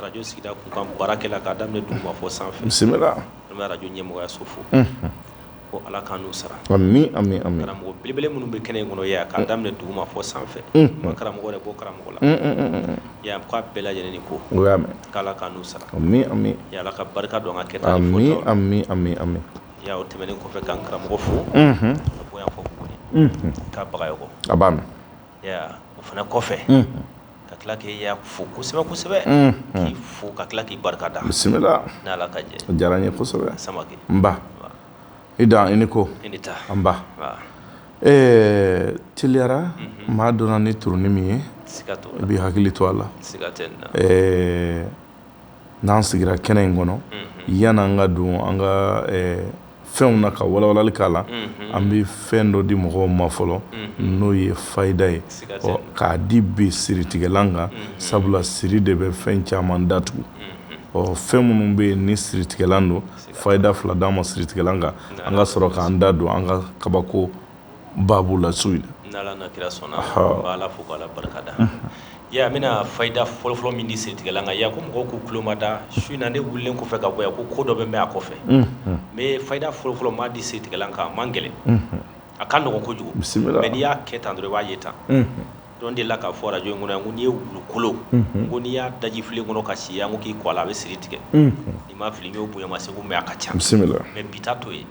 radio sigida kunkan baarakɛla k'a daminɛ duguma fɔ san fɛ, bisimila, an bɛ radio ɲɛmɔgɔyaso fo, unhun, ko Ala k'an n'u sara, amin, amin, amin, karamɔgɔ belebele minnu bɛ kɛnɛ in kɔnɔ yan k'a daminɛ duguma fɔ san fɛ, unhun, karamɔgɔ yɛrɛ bɔ karamɔgɔ la, un, un, un, un, ya rabbi k'a bɛɛ lajɛlen ni ko, n ko i y'a mɛn, k'Ala k'an n'u sara, amin, amin, ya Allah ka barika don an ka kɛta la, amin, amin, amin, amin, ya Allah o tɛmɛnen kɔfɛ ka n karamɔgɔ fo, unhun, ka bɔ yan fɔ Buguni, unhun, k'a Bagayoko, a b'a mɛn, ya Allah o fana kɔfɛ, unhun. ka tila k'i yɛrɛ fo kosɛbɛ kosɛbɛ k'i fo ka tila k'i barika da bisimila ni Ala ka jɛ o diyara n ye kosɛbɛ Samake nba i da i ni ko i ni taa anba ɛɛ teliyara maa donna ni turuni min ye i b'i hakili to a la ɛɛ N'an sigira kɛnɛ in kɔnɔ yan an ka don an ka fɛnw na ka walawalali k'a la an bɛ fɛn dɔ di mɔgɔw ma fɔlɔ n'o ye fayida ye k'a di bi siritigɛlan kan sabula siri de bɛ fɛn caman datugu fɛn minnu bɛ yen ni siritigɛlan don fayida fila dama siritigɛlan kan an ka sɔrɔ k'an da don an ka kabako baabu la su in na n'Ala n'a kira sɔnna an bɛ Ala fo ka Ala barikada i y'a ye an bɛna fayida fɔlɔfɔlɔ min di siritigɛlan kan ya ko mɔgɔw k'u tulo mada su in na ne wulilen kɔfɛ ka bɔ yan ko ko dɔ bɛ mɛn a kɔfɛ mais fayida fɔlɔfɔlɔ n b'a di siritigɛlan kan a man gɛlɛn a ka nɔgɔn kojugu bisimila mais n'i y'a kɛ tan dɔrɔn i b'a ye tan dɔ n delila k'a fɔ arajo in kɔnɔ yan ko n'i ye wulukolo ko n'i y'a daji filen kɔnɔ ka si ya ko k'i ko a la a bɛ siri tigɛ ni n ma fili n y'o bonya ma Segu mais a ka ca bisimila mais bi ta t'o ye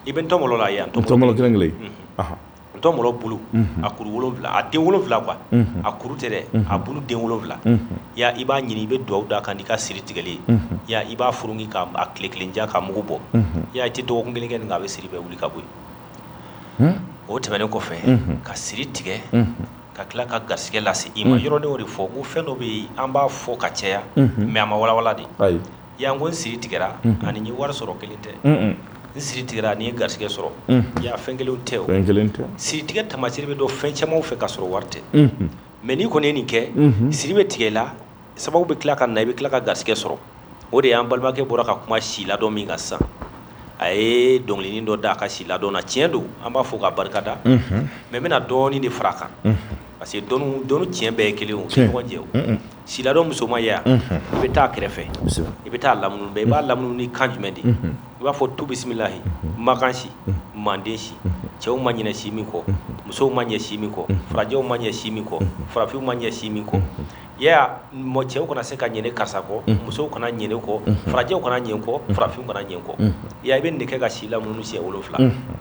I bɛ ntɔmɔlɔ la yan ntɔmɔlɔ kelen kelen ntɔmɔlɔ bulu a kuru wolonwula a den wolonwula quoi a kuru tɛ dɛ a bulu den wolonwula ya i b'a ɲini i bɛ dugawu d'a kan n'i ka siri tigɛli ya i b'a furuku k'a tile kelen ja ka mugu bɔ ya i tɛ dɔgɔkun kelen kɛ a bɛ siri bɛɛ wuli ka bɔ yen o tɛmɛnen kɔfɛ ka siri tigɛ ka tila ka garisɛgɛ lase i ma yɔrɔ ne y'o de fɔ ko fɛn dɔ bɛ yen an b'a fɔ ka caya mais a ma walawala de Ya n ko n siri tigɛra ani n ye wari sɔrɔ kelen tɛ n siri tigɛra ani n ye garisɛgɛ sɔrɔ ya fɛn kelen tɛ o kelen tɛ siri tigɛ tamasi bɛ dɔn fɛn camanw fɛ ka sɔrɔ wari tɛ mais n'i kɔni ye nin kɛ siri bɛ tigɛ i la sababu bɛ tila ka na i bɛ tila ka garisɛgɛ sɔrɔ o de y'an balimakɛ bɔra ka kuma si ladɔn min kan sisan a ye dɔnkilinin dɔ da a ka si ladɔn na tiɲɛ don an b'a fo k'a barikada mais n bɛna dɔɔnin de fara a kan parce que dɔnni tiɲɛ bɛɛ ye kelen o tɛ si ladɔn musoman ya i bɛ taa a kɛrɛfɛ i bɛ taa a lamunu i b'a lamunu ni kan jumɛn de i b'a fɔ tu bisimilayi makan si manden si cɛw ma ɲinɛ si min kɔ musow ma ɲinɛ si min kɔ farajɛw ma ɲinɛ si min kɔ farafinw ma ɲinɛ si min kɔ ya cɛw kana se ka ɲinɛ karisa kɔ musow kana ɲinɛ kɔ farajɛw kana ɲinɛ kɔ farafinw kana ɲinɛ kɔ ya i bɛ nin de kɛ ka si lamunu siɲɛ wolonwula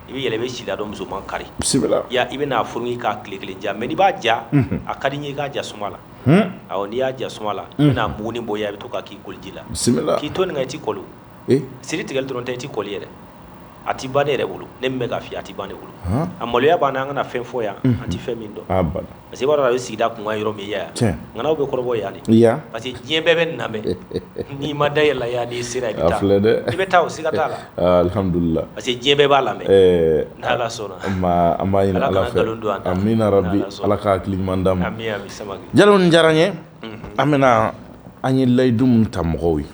i bɛ yɛlɛ i bɛ si ladɔn musoman kari i bɛ n'a furuku k'a tile kelen ja mais n'i b'a ja a ka di n ye i k'a ja suma la n'i y'a ja suma la i bɛna muguni bɔ i bɛ to k'a k'i koliji la k'i to nin kan i tɛ kɔli siri tigɛli dɔrɔn tɛ i tɛ kɔli yɛrɛ a tɛ ban ne yɛrɛ bolo ne min bɛ k'a f'i ye a tɛ ban ne bolo a maloya b'an na an kana fɛn fɔ yan an tɛ fɛn min dɔn parce que i b'a dɔn a bɛ sigida kun yɔrɔ min yan ŋanaw bɛ kɔrɔbɔ yan de parce que diɲɛ bɛɛ bɛ nin lamɛn n'i ma da i yɛrɛ la yan n'i sera i bɛ taa i bɛ taa o siga t'a la alihamdulila parce que diɲɛ bɛɛ b'a lamɛn an b'a ɲini ala fɛ amina rabi ala ka hakili ɲuman d'an ma jalo nin diyara n ye an bɛna an ye layidu min ta mɔgɔw ye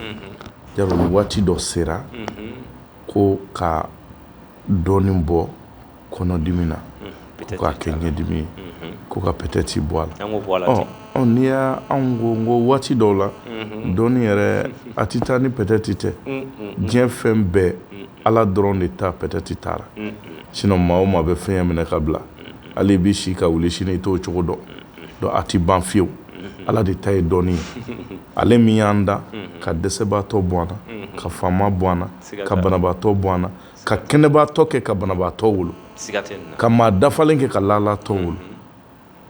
jalo ni waati dɔ sera ko ka dɔnni bɔ kɔnɔdimi na ko k'a kɛ ɲɛdimi ye ko ka peut-être bɔ a la n'i y' anw ko n ko waati dɔw la dɔnni yɛrɛ a tɛ taa ni peut-être tɛ diɲɛ fɛn bɛɛ ala dɔrɔn de ta peut-être t'a la sinon maa o maa bɛ fɛn minɛ k'a bila hali i bɛ si ka wuli sini i t'o cogo dɔn donc a tɛ ban fiyewu ala de ta ye dɔnni ye ale min y'an da ka dɛsɛbaatɔ bɔ an na ka faama bɔ an na ka banabaatɔ bɔ an ka kɛnɛbaatɔ kɛ ka banabaatɔ wolo ka maa dafalen kɛ ka lalatɔ wolo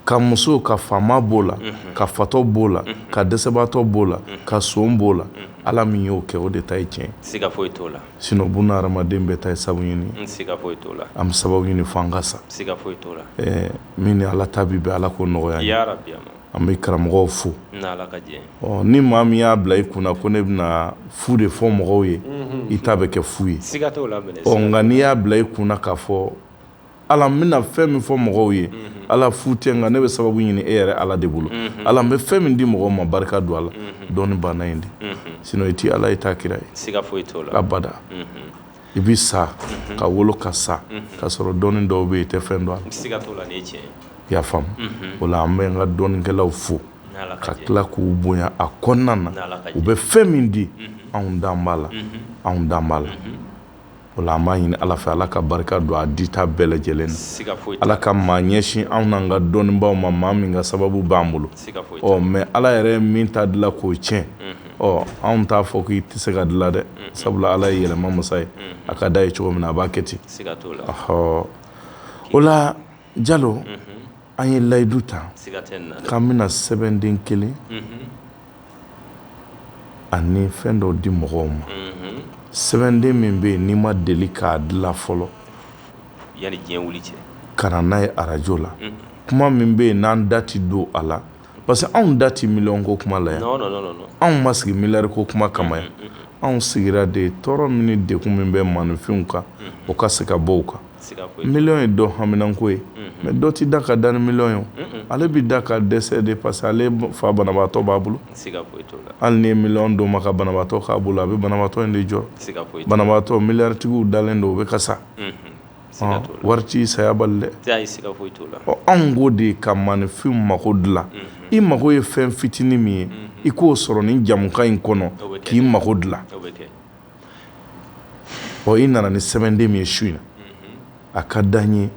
ka muso ka faama b'o la ka fatɔ b'o la ka dɛsɛbaatɔ b'o la ka son b'o la ala min y'o kɛ o de ta ye tiɲɛ sinon buna hadamaden bɛɛ ta ye sabu ɲini an bɛ sababu ɲini fo an ka sa min ni ala ta bɛ bɛn ala k'o nɔgɔya an bɛ karamɔgɔw fo ni maa min y'a bila i kunna ko ne bɛna fu de fɔ mɔgɔw ye i ta bɛ kɛ fu ye nka n'i y'a bila i kunna k'a fɔ ala n bɛna fɛn min fɔ mɔgɔw ye ala fu tɛ nka ne bɛ sababu ɲini e yɛrɛ ala de bolo ala n bɛ fɛn min di mɔgɔ ma barika don a la dɔnni banna in de sinon i tɛ ala ye i t'a kira ye abada i bɛ sa ka wolo ka sa ka sɔrɔ dɔnni dɔw bɛ yen i tɛ fɛn dɔn a la i y'a faamu o la an bɛ an ka dɔnnikɛlaw fo ka tila k'u bonya a kɔnɔna na u bɛ fɛn min di anw dan b'a la anw dan b'a la o la an b'a ɲini ala fɛ ala ka barika don a dita bɛɛ lajɛlen na ala ka maa ɲɛsin anw n'an ka dɔnnibaw ma maa min ka sababu b'an bolo ɔ mais ala yɛrɛ ye min ta dilan k'o tiɲɛ ɔ anw t'a fɔ k'i tɛ se k'a dilan dɛ sabula ala ye yɛlɛma masa ye a ka d'a ye cogo min na a b'a kɛ ten ɔɔ o la jalo an ye layidu ta k'an bɛna sɛbɛnden kelen ani fɛn dɔ di mɔgɔw ma sɛbɛnden min bɛ yen n'i ma deli k'a dilan fɔlɔ ka na n'a ye arajo la kuma min bɛ yen n'an da tɛ don a la parce que anw da tɛ miliyɔn ko kuma la yan anw ma sigi miliyari ko kuma kama yan anw sigira de tɔɔrɔ min ni degun min bɛ maaninfinw kan o ka se ka bɔ u kan miliyɔn ye dɔ haminanko ye mais dɔ tɛ da ka dan ni miliyɔn ye ale bɛ da ka dɛsɛ de parce que ale fa banabaatɔ b'a bolo hali n'i ye miliyɔn d'o ma ka banabaatɔ k'a bolo a bɛ banabaatɔ in de jɔrɔ banabaatɔ miliyaritigiw dalen don o bɛ ka sa wari ti saya bali dɛ anw ko de ka maninfin mako dilan i mago ye fɛn fitinin min ye i k'o sɔrɔ nin jamukan in kɔnɔ k'i mako dilan ɔ i nana ni sɛbɛnden min ye su in na a ka di an ye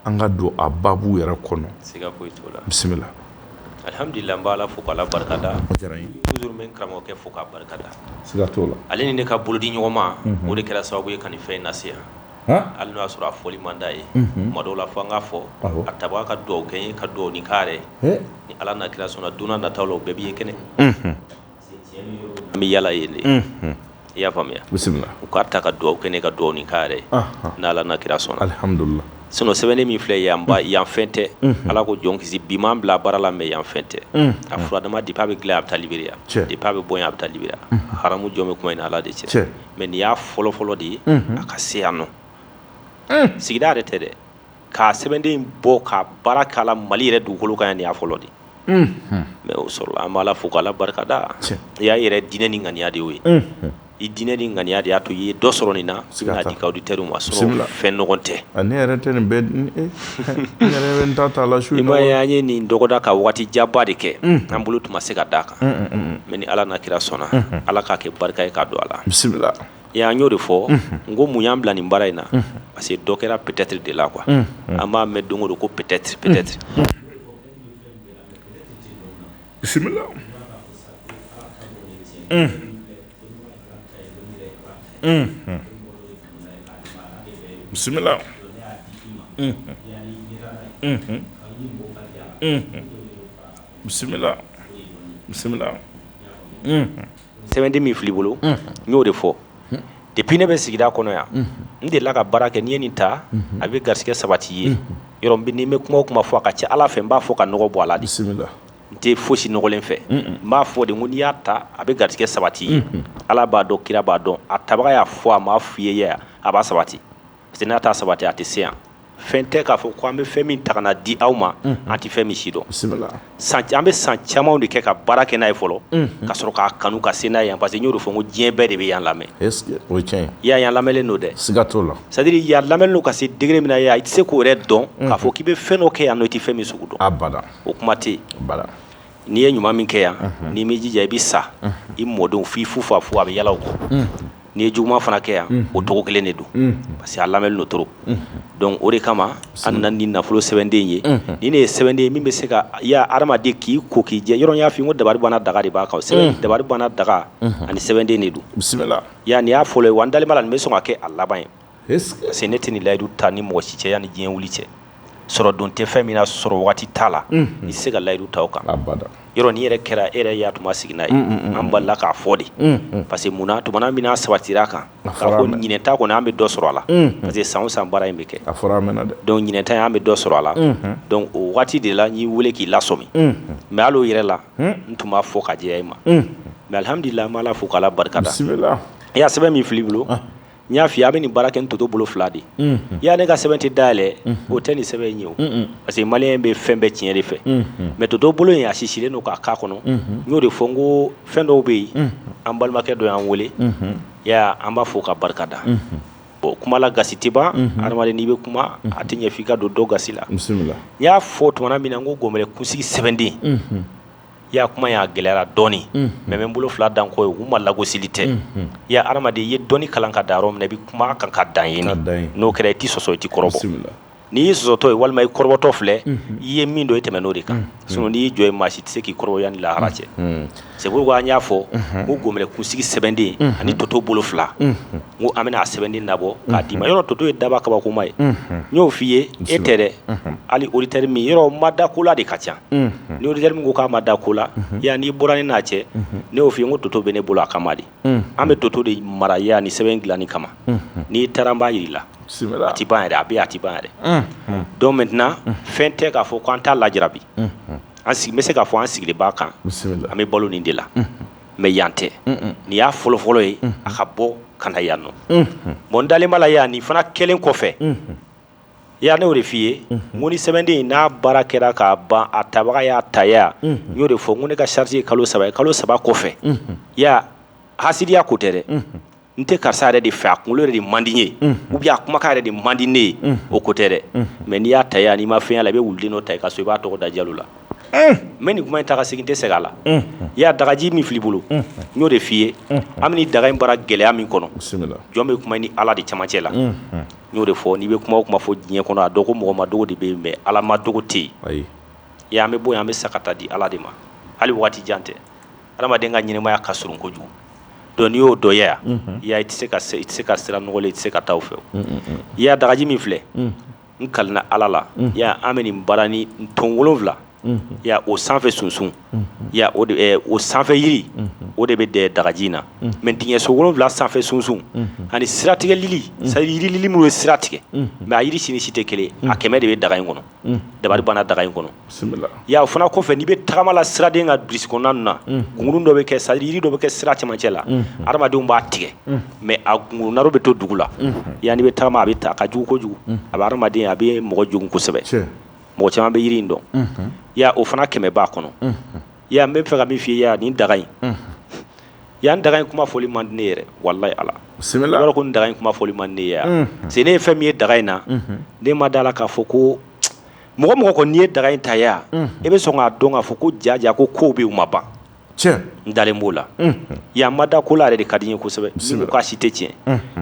an ka don a babu yɛrɛ kɔnɔ bisimila alhamdulillah n b'ala fo k'ala barikada toujours n bɛ n karamɔgɔkɛ fo k'a barikada siga t'o la ale ni ne ka bolodiɲɔgɔnma o de kɛra sababu ye ka fɛn in na hali n'o y'a sɔrɔ a fɔli man d'a ye tuma dɔw la fo an k'a fɔ a tabaga ka dugawu kɛ n ye ka dugawu ni ka ni ala n'a kira sɔnna don nataw la o bɛɛ b'i ye kɛnɛ an bɛ yala yen de i y'a faamuya bisimila u k'a ta ka dugawu kɛ ne ka dugawu ni ka n'ala n'a kira sɔnna sinon sɛbɛnden min filɛ yan yanfɛn tɛ ala ko jɔn kisi bi m'an bila baara la mais yanfɛn tɛ a fura dama depuis a bɛ dilan a bɛ taa libiya depuis a bɛ bɔ yan a bɛ taa libiya haramu jɔn bɛ kuma in ala de cɛ mais nin y'a fɔlɔ fɔlɔ de ye a ka se yan nɔ sigida yɛrɛ tɛ dɛ k'a sɛbɛnden bɔ ka baara k'a la mali yɛrɛ dugukolo kan yan nin y'a fɔlɔ de mais o sɔrɔla an b'ala fo k'ala barikada i y'a yɛrɛ diinɛ ni ŋaniya de ye i diinɛ ni ŋaniya de y'a to i ye dɔ sɔrɔ nin na i bɛna di i ka auditeurs ma sinon fɛn nɔgɔn tɛ nin ta' la su in na i m'a ye an ye nin dɔgɔda ka waati janba de kɛ an bolo tun ma se ka d'a kan mais ni ala n'a kira sɔnna ala k'a kɛ barika ye k'a don a la bisimila an y'o de fɔ n ko mun y'an bila nin baara in na parce que dɔ kɛra peut-être de la quoi an b'a mɛn don o don ko peut-être peut-être bisimila bisimila bisimila bisimila sɛbɛnden min fil'i bolo n y'o de fɔ depuis ne bɛ sigida kɔnɔ yan n delila ka baara kɛ n'i ye nin ta a bɛ garisɛgɛ sabati ye yɔrɔ n bɛ kuma o kuma fɔ a ka ca ala fɛ n b'a fɔ ka nɔgɔ bɔ a la de n tɛ fosi nɔgɔlen fɛ n b'a fɔ de ko n'i y'a ta a bɛ garisɛgɛ sabati ye ala b'a dɔn kira b'a dɔn a tabaga y'a fɔ a m'a f'i ye a b'a sabati parce que n'a t'a sabati a tɛ se yan fɛn tɛ k'a fɔ ko an bɛ fɛn min ta ka na di aw ma an tɛ fɛn min si dɔn an bɛ san camanw de kɛ ka baara kɛ n'a ye fɔlɔ ka sɔrɔ k'a kanu ka se n'a ye yan parce que n y'o de fɔ ko diɲɛ bɛɛ de bɛ yan lamɛn ya yan lamɛnlen don dɛ siga t'a la c'est à dire yan lamɛnlen don ka se degré min na i tɛ se k'o yɛrɛ dɔn k'a fɔ k'i bɛ fɛn dɔ kɛ yan nɔ i tɛ fɛn min sugu dɔn abada o kuma tɛ n'i ye ɲuman min kɛ yan n'i m'i jija i bɛ sa i mɔdenw f'i fufafu a bɛ yaala u kɔ n'i ye juguman fana kɛ yan o cogo kelen de don parce que a lamɛnlen don trop donc o de kama an nana ni nafolo sɛbɛnden ye ni ne ye sɛbɛnden min bɛ se ka ya adamaden k'i ko k'i jɛ yɔrɔ n y'a f'i ye ko dabari banna daga de b'a kan dabari banna daga ani sɛbɛnden de don bisimila yan nin y'a fɔlɔ ye wa n dalen b'a la nin bɛ sɔn ka kɛ a laban ye parce que ne tɛ nin layidu ta ni mɔgɔ si cɛ yanni diɲɛ wuli cɛ sɔrɔ don tɛ fɛn min na sɔrɔ waati t'a la i tɛ se ka layidu ta o kan yɔrɔ ni yɛrɛ kɛra e yɛrɛ ya tun seginna ye an balila k'a fɔ de parce que munna tuma min n'a sabatira a kan ɲinan ta kɔni an bɛ dɔ sɔrɔ a la parce que san o san baara in bɛ kɛ ɲinan an bɛ dɔ sɔrɔ a la o waati de la n y'i weele k'i lasɔmi mais hali o yɛrɛ la n tun b'a fɔ ka jɛya e ma mais alhamdulila an b'ala fo k'ala barika da i y'a sɛbɛn min fil'i bolo n y'a f'i ye a bɛ nin baara kɛ ni toto bolo fila de y'a ne ka sɛbɛn tɛ dayɛlɛ o tɛ nin sɛbɛn ye o parce que maliyɛn bɛ fɛn bɛɛ tiɲɛ de fɛ mais toto bolo in a sisilen don k'a k'a kɔnɔ n y'o de fɔ n ko fɛn dɔw bɛ yen an balimakɛ dɔ y'an weele an b'a fo k'a barika da o kuma la gasi tɛ ban adamaden n'i bɛ kuma a tɛ ɲɛ f'i ka don dɔ gasi la n y'a fɔ tuma min na n ko gɔnbɛlɛ kunsigi sɛbɛnden ya kuma y'a gɛlɛyara dɔɔnin mais n bɛ n bolo fila da n kɔ ye u ma lagosili tɛ ya adamaden i ye dɔnni kalan ka dan yɔrɔ min na i bɛ kuma kan ka dan yen n'o kɛra i tɛ sɔsɔ i tɛ kɔrɔbɔ n'i y'i sɔsɔtɔ ye walima i kɔrɔbɔtɔ filɛ i ye min dɔn i tɛmɛn'o de kan sinon n'i y'i jɔ yen maa si tɛ se k'i kɔrɔbɔ yanni lahara cɛ c'est pourquoi an y'a fɔ ko gɔnbɛlɛ kunsigi sɛbɛnden ani toto bolo fila n ko an bɛna a sɛbɛnden labɔ k'a d'i ma yɔrɔ toto ye daba kabakoma ye n y'o f'i ye e tɛ dɛ hali auditeur min yɔrɔ ma da ko la de ka ca ni auditeur min ko k'a ma da ko la yan n'i bɔra ne n'a cɛ ne y'o f'i ye n ko toto bɛ ne bolo a kama de an bɛ toto de mara yan nin sɛbɛn dilanni kama n'i taara n b'a jira i la a tɛ ban yɛrɛ a bɛ yen a tɛ ban yɛrɛ donc maintenant fɛn tɛ k'a fɔ k'an t'a lajarabi an sigi n bɛ se k'a fɔ an sigilen b'a kan an bɛ balo nin de la mais yan tɛ nin y'a fɔlɔfɔlɔ ye a ka bɔ ka na yan nɔ bon n dalen b'a la ya nin fana kɛlen kɔfɛ ya ne y'o de f'i ye n ko ni sɛbɛnden in n'a baara kɛra k'a ban a tabaga y'a ta ya n y'o de fɔ ko ne ka charge ye kalo saba ye kalo saba kɔfɛ ya hasidiya ko tɛ dɛ n tɛ karisa yɛrɛ de fɛ a kunkolo yɛrɛ de man di n ye ou bien a kumakan yɛrɛ de man di ne ye o ko tɛ dɛ mais n'i y'a ta yan n'i ma fɛn y'a la i bɛ wuluden dɔ ta i ka so i b'a tɔgɔ da Jalo la n bɛ nin kuma in ta ka segin n tɛ segin a la i y'a dagaji min filɛ i bolo n y'o de f'i ye an bɛ nin daga in baara gɛlɛya min kɔnɔ jɔn bɛ kuma i ni Ala de cɛmancɛ la n y'o de fɔ n'i bɛ kuma o kuma fɔ diɲɛ kɔnɔ a dɔn ko mɔgɔ madogo de bɛ yen mais Ala madogo tɛ yen i y'a ye an bɛ bɔ yan an bɛ sa ka taa di Ala de ma hali waati jan tɛ Adamaden ka ɲɛnamaya ka surun kojugu donc n'i y'o dɔ ye yan, i y'a ye i tɛ se ka i tɛ se ka sira nɔgɔlen i tɛ se ka taa o fɛ, i y'a ye dagaji min filɛ n kalina Ala la i y'a ye an bɛ nin baara ni ton wolonwula i y'a ye o sanfɛ sunsun i y'a ye o sanfɛ yiri o de bɛ dagaji in na mais dingɛso wolonwula sanfɛ sunsun ani siratigɛ lili c'est à dire yiri lili minnu ye sira tigɛ mais a yiri si ni si tɛ kelen ye a kɛmɛ de bɛ daga in kɔnɔ. dabari banna daga in kɔnɔ ya o fana kɔfɛ n'i bɛ tagama la siraden ka brousse kɔnɔna ninnu na gungurun dɔ bɛ kɛ c'est à dire yiri dɔ bɛ kɛ sira camancɛ la adamadenw b'a tigɛ mais a gungurun bɛ to dugu la ya n'i bɛ taama a bɛ taa a ka jugu kojugu a bɛ adamaden a bɛ mɔgɔ jogin kosɛbɛ mɔgɔ caman bɛ yiri in dɔn ya o fana kɛmɛ b'a kɔnɔ ya n bɛ fɛ ka min fɔ i ye ya nin daga in Yan daga in kuma fɔli man di n ye yɛrɛ walayi Ala sɛbɛn ko daga in kuma fɔli man di ne ye yan parce que ne ye fɛn min ye daga in na ne ma d'a la k'a fɔ ko mɔgɔ mɔgɔ kɔni n'i ye daga in ta yan i bɛ sɔn k'a dɔn k'a fɔ ko jaja ko kow bɛ yen u ma ban n dalen b'o la yan ma da ko la yɛrɛ de ka di n ye kosɛbɛ k'a si tɛ tiɲɛ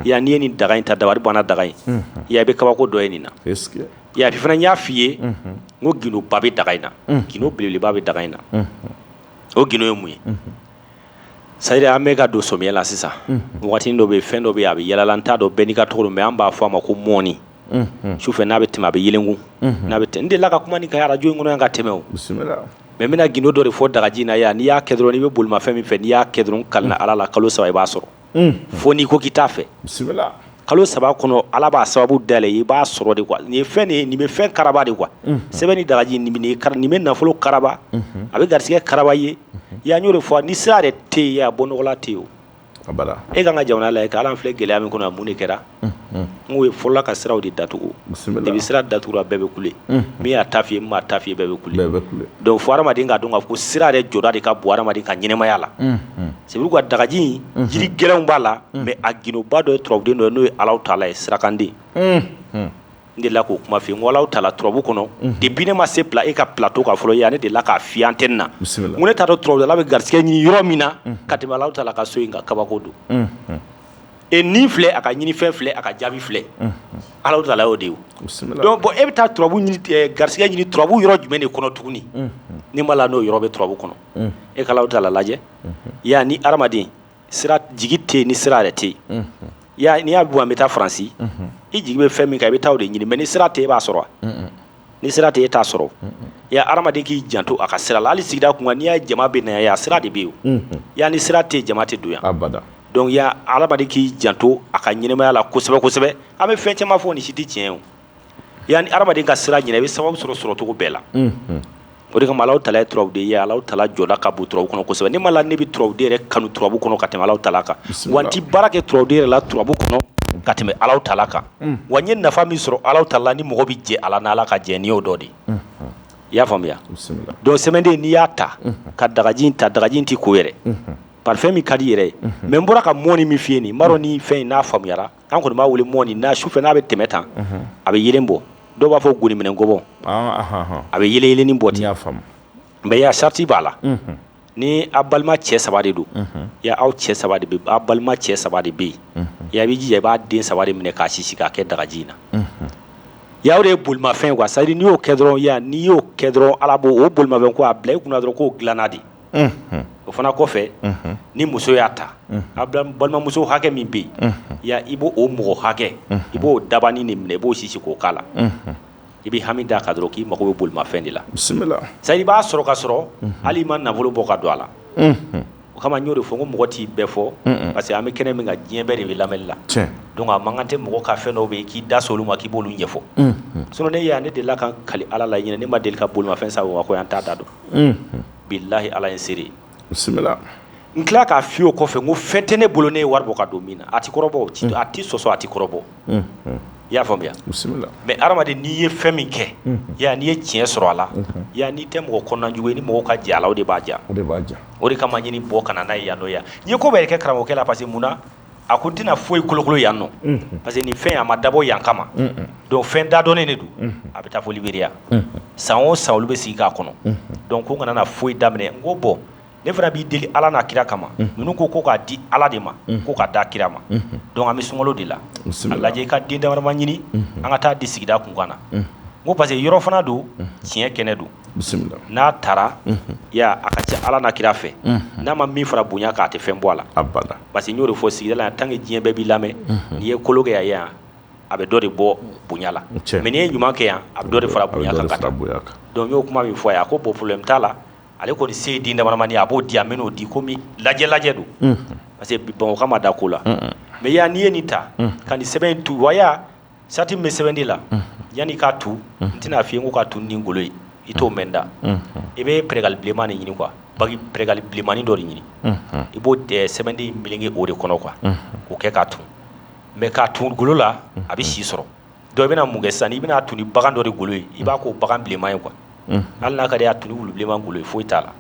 yan n'i ye nin daga in ta dabari banna daga in ya i bɛ kabako dɔ ye nin na ya fana n y'a f'i ye ko gindo ba bɛ daga in na gindo belebeleba bɛ daga in na o gindo ye mun ye C'est à dire an bɛ ka don samiyɛ la sisan waati dɔ bɛ yen fɛn dɔ bɛ yen a bɛ yalala n t'a dɔn bɛɛ n'i ka tɔgɔ don mais an b'a fɔ a ma ko mɔni sufɛ n'a bɛ tɛmɛ a bɛ yɛlɛkun n'a bɛ tɛmɛ n delila ka kuma nin kan arajo in kɔnɔ yan ka tɛmɛ o mais n bɛna gindo dɔ de fɔ dagaji na yan n'i y'a kɛ dɔrɔn n'i bɛ bolimafɛn min fɛ n'i y'a kɛ dɔrɔn kalina Ala la kalo saba i b'a sɔrɔ fo n'i ko k'i t'a fɛ kalo saba kɔnɔ Ala b'a sababu dayɛlɛ i b'a sɔrɔ de quoi nin ye fɛn de ye nin bɛ fɛn karaba de quoi sɛbɛn ni dagaji nin bɛ nafolo karaba a bɛ garisɛgɛ karaba ye ya n y'o de fɔ ni sira yɛrɛ tɛ yen a bɔ nɔgɔ la tɛ yen o e kan ka jamana lajɛ k'a lajɛ an filɛ gɛlɛya min kɔnɔ a mun de kɛra n'o ye fɔlɔla ka siraw de datugu depuis sira datugura bɛɛ bɛ kule min y'a ta f'i ye min m'a ta f'i ye bɛɛ bɛ kule donc fo hadamaden k'a dɔn k'a fɔ ko sira yɛrɛ jɔda de ka bon hadamaden ka ɲɛnamaya la c'est pourquoi dagaji in jiri gɛlɛnw b'a la mais a gindoba dɔ ye turabuden dɔ ye n'o ye Alahu Taala ye sirakanden n delila k'o kuma f'i ye n ko Alahu Taala turabu kɔnɔ depuis ne ma sen bila e ka plateau kan fɔlɔ yan ne delila k'a f'i ye antenne na n ko ne t'a dɔn turabudala bɛ garisɛgɛ ɲini yɔrɔ min na ka tɛmɛ Alahu Taala ka so in kan kabako don e nin filɛ a ka ɲinifɛn filɛ a ka jaabi filɛ ala tala y'o de ye donc bon e bɛ taa turabu ɲini garisigɛ ɲini turabu yɔrɔ jumɛn de kɔnɔ tuguni ni m'a la n'o yɔrɔ bɛ turabu kɔnɔ e ka ala tala lajɛ ya ni adamaden sira jigi tɛ ni sira yɛrɛ tɛ ya n'i y'a bɔ an bɛ taa faransi i jigi bɛ fɛn min kan i bɛ taa o de ɲini mais ni sira tɛ e b'a sɔrɔ ni sira tɛ e t'a sɔrɔ ya adamaden k'i janto a ka sira la hali sigida kunna n'i y'a ye jama bɛ na yan sira de bɛ yen ya ni sira tɛ jama tɛ don yan donc ya adamaden k'i janto a ka ɲɛnamaya la kosɛbɛ kosɛbɛ an bɛ fɛn caman fɔ nin si tɛ tiɲɛ o ya ni adamaden ka sira ɲinɛ i bɛ sababu sɔrɔ sɔrɔcogo bɛɛ la o de kama Alahu tala ye turabuden ye Alahu tala jɔda ka bon turabu kɔnɔ kosɛbɛ ne m'a la ne bɛ turabuden yɛrɛ kanu turabu kɔnɔ ka tɛmɛ Alahu tala kan wa n tɛ baara kɛ turabuden yɛrɛ la turabu kɔnɔ ka tɛmɛ Alahu tala kan wa n ye nafa min sɔrɔ Alahu tala ni mɔgɔ bɛ jɛ a la ni Ala ka jɛ nin y'o dɔ de ye i y'a faamuya donc sɛmɛden n'i y'a ta ka dagaji in ta dagaji in tɛ ko yɛrɛ parfum min ka di yɛrɛ ye mais n bɔra ka mɔni min f'i ye nin n b'a dɔn ni fɛn in n'a faamuyara An kɔni b'a wele mɔni na su fɛ n'a bɛ tɛmɛ tan a bɛ yelen bɔ dɔw b'a fɔ goni minɛ gɔbɔ a bɛ yelennin bɔ ten mais ya sarati b'a la ni a balima cɛ saba de don ya aw cɛ saba de bɛ balima cɛ saba de bɛ yen ya b'i jija i b'a den saba de minɛ k'a sisi k'a kɛ dagaji in na ya o de ye bolimafɛn quoi c'est à dire n'i y'o kɛ dɔrɔn ya n'i y'o kɛ dɔrɔn ala b'o bolimafɛn ko a bila i kunna dɔrɔn k'o dilanna de o fana kɔfɛ ni muso y'a ta a balimamuso hakɛ min bɛ yen ya i b'o o mɔgɔ hakɛ i b'o dabanin de minɛ i b'o sisi k'o k'a la i bɛ hami d'a kan dɔrɔn k'i mako bɛ bolimafɛn de la c'est à dire i b'a sɔrɔ ka sɔrɔ hali i ma nafolo bɔ ka don a la o kama n y'o de fɔ n ko mɔgɔ t'i bɛɛ fɔ parce que an bɛ kɛnɛ min kan diɲɛ bɛɛ de bɛ lamɛnni la donc a man kan tɛ mɔgɔ ka fɛn dɔw bɛ yen k'i da s'olu ma k'i b'olu ɲɛfɔ sinon ne ya ne delila ka kali ala la ɲini ne ma deli ka bolimafɛn san wa ko yan t'a da dɔn bilayi ala ye n seere bisimila n tila k'a f'i o kɔfɛ n ko fɛn tɛ ne bolo ne ye wari bɔ ka don min na a tɛ kɔrɔbɔ a tɛ sɔsɔ a tɛ kɔrɔbɔ i y'a faamuya mais adamaden n'i ye fɛn min kɛ ya n'i ye tiɲɛ sɔrɔ a la ya n'i tɛ mɔgɔ kɔnɔnajugu ye ni mɔgɔ ka jɛ a la o de b'a ja o de kama ɲini bɔ kana n'a ye yan nɔ ya n ye ko bɛɛ kɛ karamɔgɔkɛ la parce que mun na A ko n tɛna foyi kolokolo yan nɔ parce que nin fɛn a ma dabɔ yan kama donc fɛn da dɔnnen de don a bɛ taa fo liberiya san o san olu bɛ sigi k'a kɔnɔ donc ko kana na foyi daminɛ n ko bon ne fana b'i deli ala n'a kira kama ninnu ko ko k'a di ala de ma ko k'a da kira ma donc an bɛ sunkalo de la lajɛ i ka den damadama ɲini an ka taa di sigida kunkan na n ko parce que yɔrɔ fana don tiɲɛ kɛnɛ don n'a taara a ka ca ala n'a kira fɛ n'a ma min fara bonya kan a tɛ fɛn bɔ a la parce que n y'o de fɔ sigida la tant que diɲɛ bɛɛ b'i lamɛn n'i ye kolon kɛ yan a bɛ dɔ de bɔ bonya la mais n'i ye ɲuman kɛ yan a bɛ dɔ de fara bonya kan donc n y'o kuma min fɔ a ye a ko bon problème t'a la ale kɔni se ye den damadamanin a b'o di a min'o di komi lajɛ lajɛ don parce que Bamakɔkaw ma da ko la mais ya n'i ye nin ta ka nin sɛbɛn in tu ya Sarati min bɛ sɛbɛn de la yanni k'a tu n tɛna f'i ye n ko k'a tu ni golo ye i t'o mɛn n da i bɛ pɛrɛgali bilenmanin ɲini quoi bagi pɛrɛgali bilenmanin dɔ de ɲini i b'o sɛbɛnden meleke o de kɔnɔ quoi k'o kɛ k'a tu mais k'a tu golo la a bɛ si sɔrɔ donc i bɛna mun kɛ sisan i bɛna tu ni bagan dɔ de golo ye i b'a k'o bagan bilenman ye quoi hali n'a ka di a tu ni wulu bilenman golo ye foyi t'a la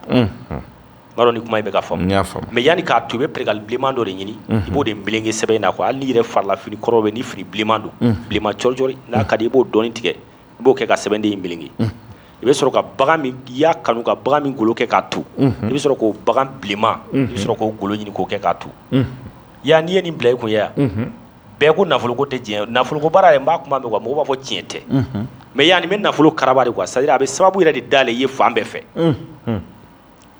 B'a dɔn ni kuma in bɛ ka faamuya mais yanni k'a tu i bɛ pɛrɛgali bilenman dɔ de ɲini i b'o de meleke sɛbɛn in na quoi hali n'i yɛrɛ farila fini kɔrɔ bɛ ni fini bilenman don bilenman cɔricɔri n'a ka di i b'o dɔɔnin tigɛ i b'o kɛ ka sɛbɛnden in meleke i bɛ sɔrɔ ka bagan min i y'a kanu ka bagan min golo kɛ k'a tu i bɛ sɔrɔ k'o bagan bilenman i bɛ sɔrɔ k'o golo ɲini k'o kɛ k'a tu ya n'i ye nin bila i kun ya bɛɛ ko nafoloko tɛ diɲɛ nafoloko baara yɛrɛ n b'a kuma mɛn mɔgɔw b'a fɔ tiɲɛ tɛ mais ya nin bɛ nafolo karaba de quoi c'est-à-dire a bɛ sababu yɛrɛ de dayɛlɛ i ye fan bɛɛ fɛ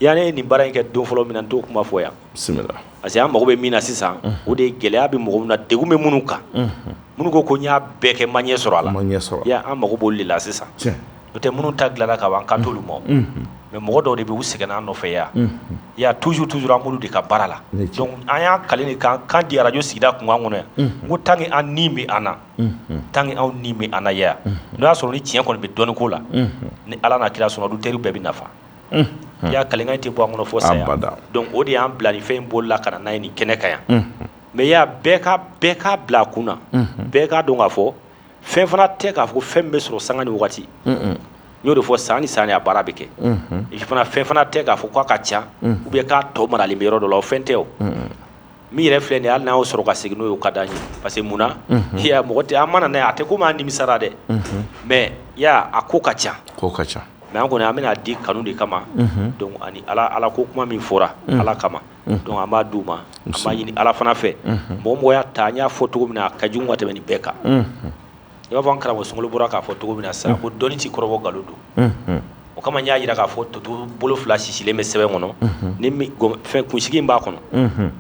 Ya ne ye nin baara in kɛ don fɔlɔ min na n t'o kuma fɔ yan bisimila parce que an mago bɛ min na sisan o de ye gɛlɛya bɛ mɔgɔ min na degun bɛ minnu kan minnu ko ko n y'a bɛɛ kɛ n ma ɲɛ sɔrɔ a la an mago b'olu de la sisan n'o tɛ minnu ta dilanna ka ban kan t'olu ma mais mɔgɔ dɔw de bɛ u sɛgɛn an nɔfɛ yan i y'a toujours an b'olu de ka baara la an y'an kalikan di arajo sigida kunkan kɔnɔ yan n ko tant que an ni bɛ an na tant que anw ni bɛ an na yan n'o y'a sɔrɔ ni tiɲɛ kɔni bɛ dɔnni ko la ni ala n'a kira sɔnna auditeurs bɛɛ bɛ nafa i y'a kalikan in tɛ bɔ an kɔnɔ fo saya, abada, donc o de y'an bila nin fɛn in bolo la ka na n'a ye nin kɛnɛ kan yan mais i y'a bɛɛ ka bɛɛ k'a bila a kun na bɛɛ k'a dɔn k'a fɔ fɛn fana tɛ k'a fɔ ko fɛn min bɛ sɔrɔ sanga ni wagati n y'o de fɔ san ni san a baara bɛ kɛ fana fɛn fana tɛ k'a fɔ k'a ka ca ou bien k'a tɔ maralen bɛ yɔrɔ dɔ la o fɛn tɛ o Min yɛrɛ filɛ nin ye hali n'a y'o sɔrɔ ka segin n'o ye o ka d'an ye parce que mun na, unhun, i y'a ye mɔgɔ tɛ, an mana n'a ye a tɛ komi an nimisara dɛ, unhun, mais i y'a ye a ko ka ca, a ko ka ca mais an kɔni an bɛna a di kanu de kama, unhun, donc ani Ala Ala ko kuma min fɔra Ala kama, unhun, donc an b'a d'u ma, unhun, an b'a ɲini Ala fana fɛ, unhun, mɔgɔ o mɔgɔ y'a ta an y'a fɔ cogo min na a ka jugu ka tɛmɛn nin bɛɛ kan, unhun. i b'a fɔ an karamɔgɔ Sunkalo bɔra k'a fɔ cogo min na sa ko dɔnni tɛ kɔrɔbɔ nkalon don o kama n y'a jira k'a fɔ toto bolo fila sisilen bɛ sɛbɛn kɔnɔ ni fɛn kunsigi b'a kɔnɔ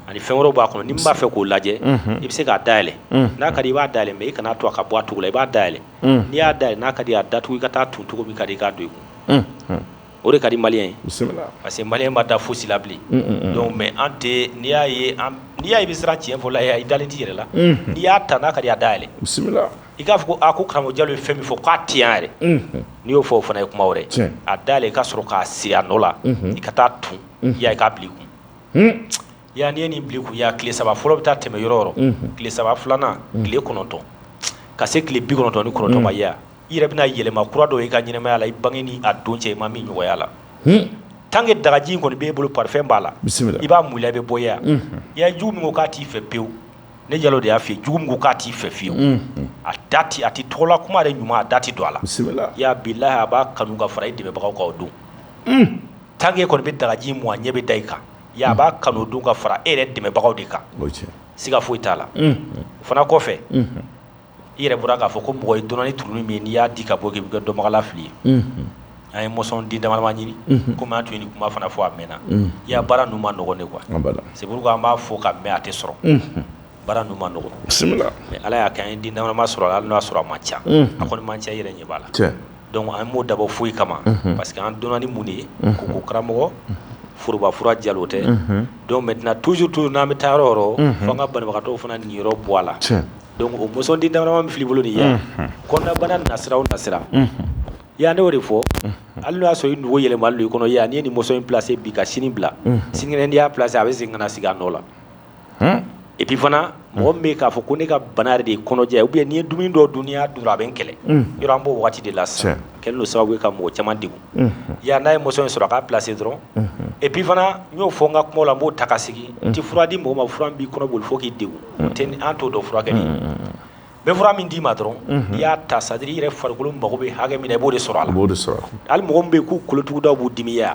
ani fɛn wɛrɛ b'a kɔnɔ ni min b'a fɛ k'o lajɛ i bɛ se k'a dayɛlɛn n'a ka di i b'a dayɛlɛn mais i kana to a ka bɔ a cogo la i b'a dayɛlɛn n'i y'a dayɛlɛn n'a ka di a datugu i ka taa a tu cogo min ka di i k'a don i kun o de ka di maliyɛn ye parce que maliyɛn ma da fosi la bilen donc mais an tɛ n'i y'a ye n'i y'a ye i bɛ siran tiɲɛ fɔ la i dalen t'i yɛrɛ la n'i y'a ta n'a ka di a da yɛlɛ i k'a fɔ ko a ko karamɔgɔ jalo ye fɛn min fɔ k'a tɛ yan yɛrɛ n'i y'o fɔ o fana ye kuma wɛrɛ a da yɛlɛ i ka sɔrɔ k'a siri a nɔ la i ka taa tun i ya i k'a bil'i kun Ya n'i ye nin bil'i kun ya tile saba fɔlɔ bɛ taa tɛmɛ yɔrɔ tile saba filanan tile kɔnɔntɔn ka se tile bi kɔnɔntɔn ni kɔnɔntɔn ma ya i yɛrɛ bɛna yɛlɛma kura dɔn i ka ɲɛnamaya la i bange ni a don cɛ i ma min ɲɔgɔn y'a la tan kɛ dagaji kɔni b'i bolo parfum b'a la i b'a mu i la i bɛ bɔ ya i ye jugu min k'a t'i fɛ pewu ne jalo de y'a fɔ jugu min k'a t'i fɛ fewu a da tɛ a t'i tɔgɔla kuma de ɲuman a da tɛ don a la ya billahi a b'a kanu ka fara i dɛmɛbagaw kan donc tan kɔni bɛ dagaji mɔgɔ ɲɛ bɛ da i kan Ya b'a kanu don ka fara i yɛrɛ dɛmɛbagaw de kan siga foyi t'a la o fana kɔfɛ i yɛrɛ bɔra k'a fɔ ko mɔgɔ i donna ni turunin min ye n'i y'a di ka bɔ k'i bɛ kɛ dɔnbaga lafili ye an ye moson den dama-dama ɲini komi an tun ye nin kuma fana fɔ a mɛnna ya baara ninnu man nɔgɔn de quoi c'est pourquoi an b'a fɔ ka mɛn a tɛ sɔrɔ Baara ninnu man nɔgɔn, bisimila, mais Ala y'a kɛ an ye den dama-dama sɔrɔ a la hali n'a y'a sɔrɔ a man ca, unhun, a kɔni man ca i yɛrɛ ɲɛ b'a la, tiɲɛ, donc an m'o dabɔ fosi kama, unhun, parce que an donna ni mun de ye, unhun, ko karamɔgɔ forobafura jalo tɛ, unhun, donc maintenant toujours toujours n'an bɛ taa yɔrɔ o yɔrɔ, unhun, fo an ka banabagatɔw fana niyɔrɔ bɔ a la, tiɲɛ, donc o moson den dama-dama min filɛ i bolo nin ye yan, unhun, kɔnɔnabana nasira o nasira, unhun, i y'a ye ne y'o de fɔ, unhun, hali n'o y'a sɔrɔ i nugu yɛlɛmalen don i kɔnɔ yan n'i ye nin moson in placer bi ka sini bila, unhun, sinikɛnɛ n'i y'a placer a bɛ segin ka na sigi a nɔ la et puis fana mɔgɔ bɛ k'a fɔ ko ne ka bana yɛrɛ de kɔnɔja ye ou bien ni n ye dumuni dɔ dun ya dɔrɔn a bɛ n kɛlɛ yɔrɔ an b'o waati de la sa kɛlɛ don sababu ye ka mɔgɔ caman degun yan n'a ye moson in sɔrɔ a k'a placer dɔrɔn et puis fana n y'o fɔ n ka kuma la n b'o ta ka sigi n tɛ fura di mɔgɔ ma fura min b'i kɔnɔ boli fo k'i degun ten an t'o dɔn fura kɛ ne bɛ fura min d'i ma dɔrɔn i y'a ta c'est-à-dire i yɛrɛ farikolo mago bɛ hakɛ min na e b'o de sɔrɔ a b'o de sɔrɔ hali mɔgɔ bɛ k'u kolotuguda b'u dimiya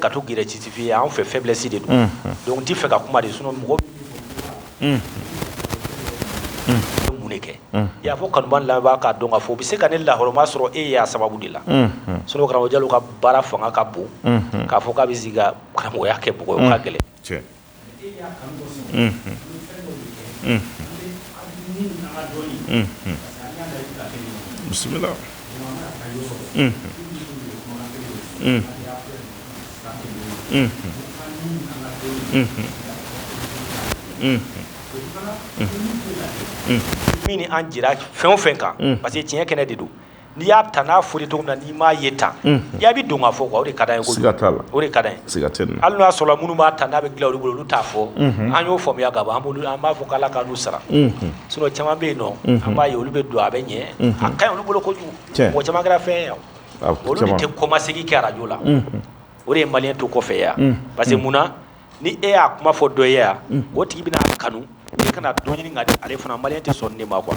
ka to g citifin ye en fait faiblesse de don donc i t'a fɛ ka kuma de sinon mɔgɔ mun de kɛ y'a fɔ kanu laban k'a dɔn k'a fɔ i bɛ se ka ne lahɔrɔma sɔrɔ e y'a sababu de la sinon karamɔgɔ jalo ka baara fanga ka bon k'a fɔ k' bɛ karamɔgɔ y'a kɛ b'o ko ka gɛlɛn bisimila maintenant an jɛra fɛn o fɛn kan parce que tiɲɛ kɛnɛ de don n'i y'a ta n'a fɔli cogo min na n'i m'a ye tan ya bɛ don k'a fɔ o de ka o ka hali n'o y'a sɔrɔ minnu b'a ta n'a bɛ dilan olu bolo olu t'a fɔ an y'o faamuya ka ban an b'a fɔ k'Ala k'u sara sinon caman bɛ yen nɔ an b'a ye olu bɛ don a bɛ ɲɛ a ka ɲi olu bolo kojugu mɔgɔ caman kɛra fɛn ye olu tɛ kɔmasegin kɛ arajo la o de ye maliyɛn to kɔfɛ yan parce que munna ni e y'a kuma fɔ dɔ ye yan o tigi bɛna kanu kana dɔ ɲini ale fana maliyɛn tɛ sɔn ne ma quoi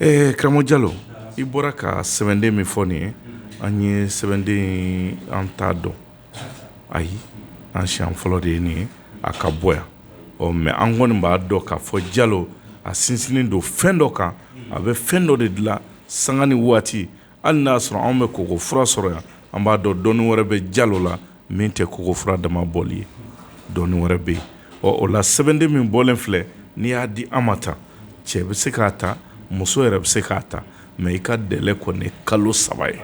Ee karamɔgɔ jalo i bɔra ka sɛbɛnden min fɔ nin ye an ye sɛbɛnden ye an t'a dɔn ayi an siɲɛ fɔlɔ de ye nin ye a ka bɔ yan ɔ mais an kɔni b'a dɔn k'a fɔ jalo a sinsinnen don fɛn dɔ kan a bɛ fɛn dɔ de dilan sanga ni waati hali n'a y'a sɔrɔ anw bɛ koko fura sɔrɔ yan an b'a dɔn dɔni wɛrɛ bɛ jalo la min tɛ koko fura dama bɔli ye dɔni wɛrɛ bɛ yen ɔ o la sɛbɛnden min bɔlen filɛ n'i y'a di an ma tan cɛ bɛ se k'a ta muso yɛrɛ bɛ se k'a ta mais i ka délai kɔni kalo saba ye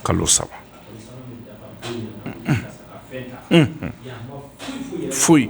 kalo saba foyi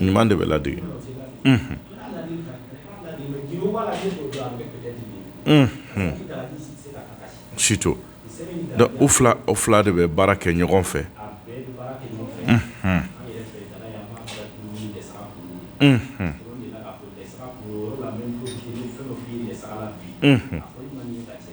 ɲuman de bɛ ladege surtout o o fila de bɛ baara kɛ ɲɔgɔn fɛ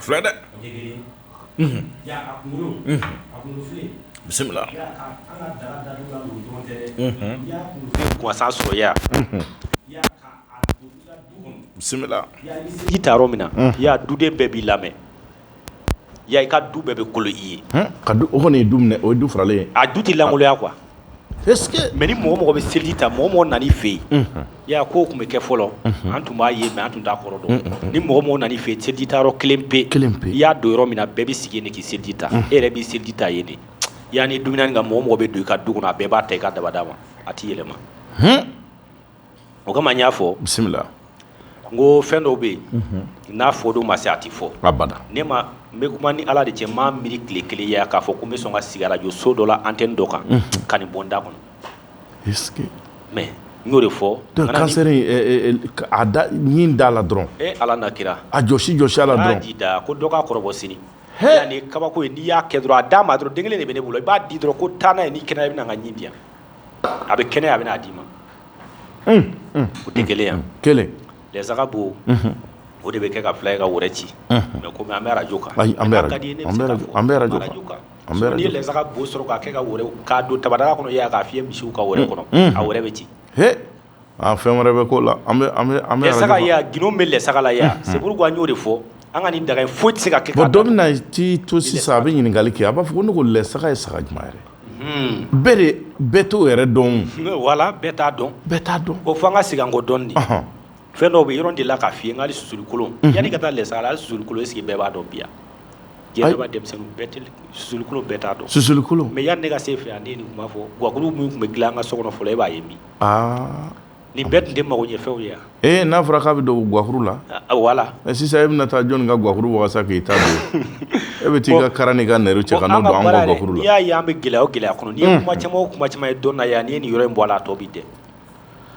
filɛ dɛ bisimila gansan sɔrɔ ya bisimila ji ta yɔrɔ min na ya duden bɛɛ b'i lamɛn ya i ka du bɛɛ bɛ kolo i ye ka du o kɔni ye du minɛ o ye du faralen a du tɛ lankoloya quoi Mais ni mɔgɔ mɔgɔ bɛ seliji ta mɔgɔ mɔgɔ nan'i fɛ yen ya ko tun bɛ kɛ fɔlɔ an tun b'a ye mais an tun t'a kɔrɔ dɔn ni mɔgɔ mɔgɔ nan'i fɛ yen seliji ta yɔrɔ kelen pe i y'a don yɔrɔ min na bɛɛ bɛ sigi yen de k'i seliji ta e yɛrɛ b'i seliji ta yen de ya ni dumuni ka mɔgɔ mɔgɔ bɛ don i ka du kɔnɔ a bɛɛ b'a ta i ka dabada ma a tɛ yɛlɛma o kama n y'a fɔ bisimila n ko fɛn dɔw bɛ yen n'a fɔ don ma se a tɛ fɔ abada ne ma n bɛ kuma ni ala de cɛ n m'a miiri tile kelen ya k'a fɔ ko n bɛ sɔn ka sigi arajo so dɔ la antenne dɔ kan ka nin bɔ n da kɔnɔ mais n y'o de fɔ da la dɔrɔn e ala n'a kira a jɔsi jɔsi a la da ko dɔ k'a kɔrɔbɔ sini yani kabako ye n'i y'a kɛ dɔrɔn a d'a ma dɔrɔn denkɛ kelen de bɛ ne bolo i b'a di dɔrɔn ko taa n'a ye ni kɛnɛ bɛ na ka ɲɛ diya a bɛ kɛnɛ a bɛn'a d'i ma o tɛ gɛlɛya yan kelen lɛsaga bo o de bɛ kɛ ka fila i ka wɛrɛ ci mɛ kɔmi an bɛ arajo kan an bɛ lɛsaga bo sɔrɔ k'a kɛ ka wɛrɛ k'a don tabadaga kɔnɔ ya k'a fiyɛ misiw ka wɛrɛ kɔnɔ a wɛrɛ bɛ ci Aa fɛn wɛrɛ bɛ ko la an bɛ an bɛ an bɛ lɛsaga gundo bɛ lɛsaga la c'est pourquoi n y'o de fɔ an ka nin daga foyi tɛ se ka kɛ bon dɔ bɛna ci to sisan a bɛ ɲininkali kɛ a b'a fɔ ko ne ko lɛsaga ye saga jumɛn ye bɛɛ de bɛɛ t'o yɛrɛ dɔn wala bɛɛ t'a dɔn bɛɛ t'a dɔn o fo an ka segin kɔ dɔɔni dɛ fɛn dɔw bɛ yɔrɔ delila k'a f'i ye hali susuli kolon yanni ka taa lɛsaga la hali susuli kolon est-ce que bɛɛ b'a dɔn bi yan jeliba denmisɛnninw susuli kolon bɛɛ t'a dɔn susuli kolon mɛ yanni ne ka se yen fɛ yan ne ye nin kuma fɔ gakulu min tun bɛ dilan an ka so kɔnɔ fɔlɔ e b'a ye bi aa nin bɛɛ tun tɛ mago ɲɛ fɛnw ye wa, ee n'a fɔra k'a bɛ don gakulu la, wala, ɛ sisan e bɛna taa jɔni ka gakulu wagasa k'i ta don, e bɛ t'i ka kara n'i ka nɛri cɛ ka n'o don anw ka gakulu la, n'i y'a ye an bɛ gɛlɛya o gɛlɛya kɔnɔ, n'i ye kuma caman o kuma caman ye dɔni na yan, n'i ye nin yɔrɔ in bɔ a la a tɔ bɛ dɛ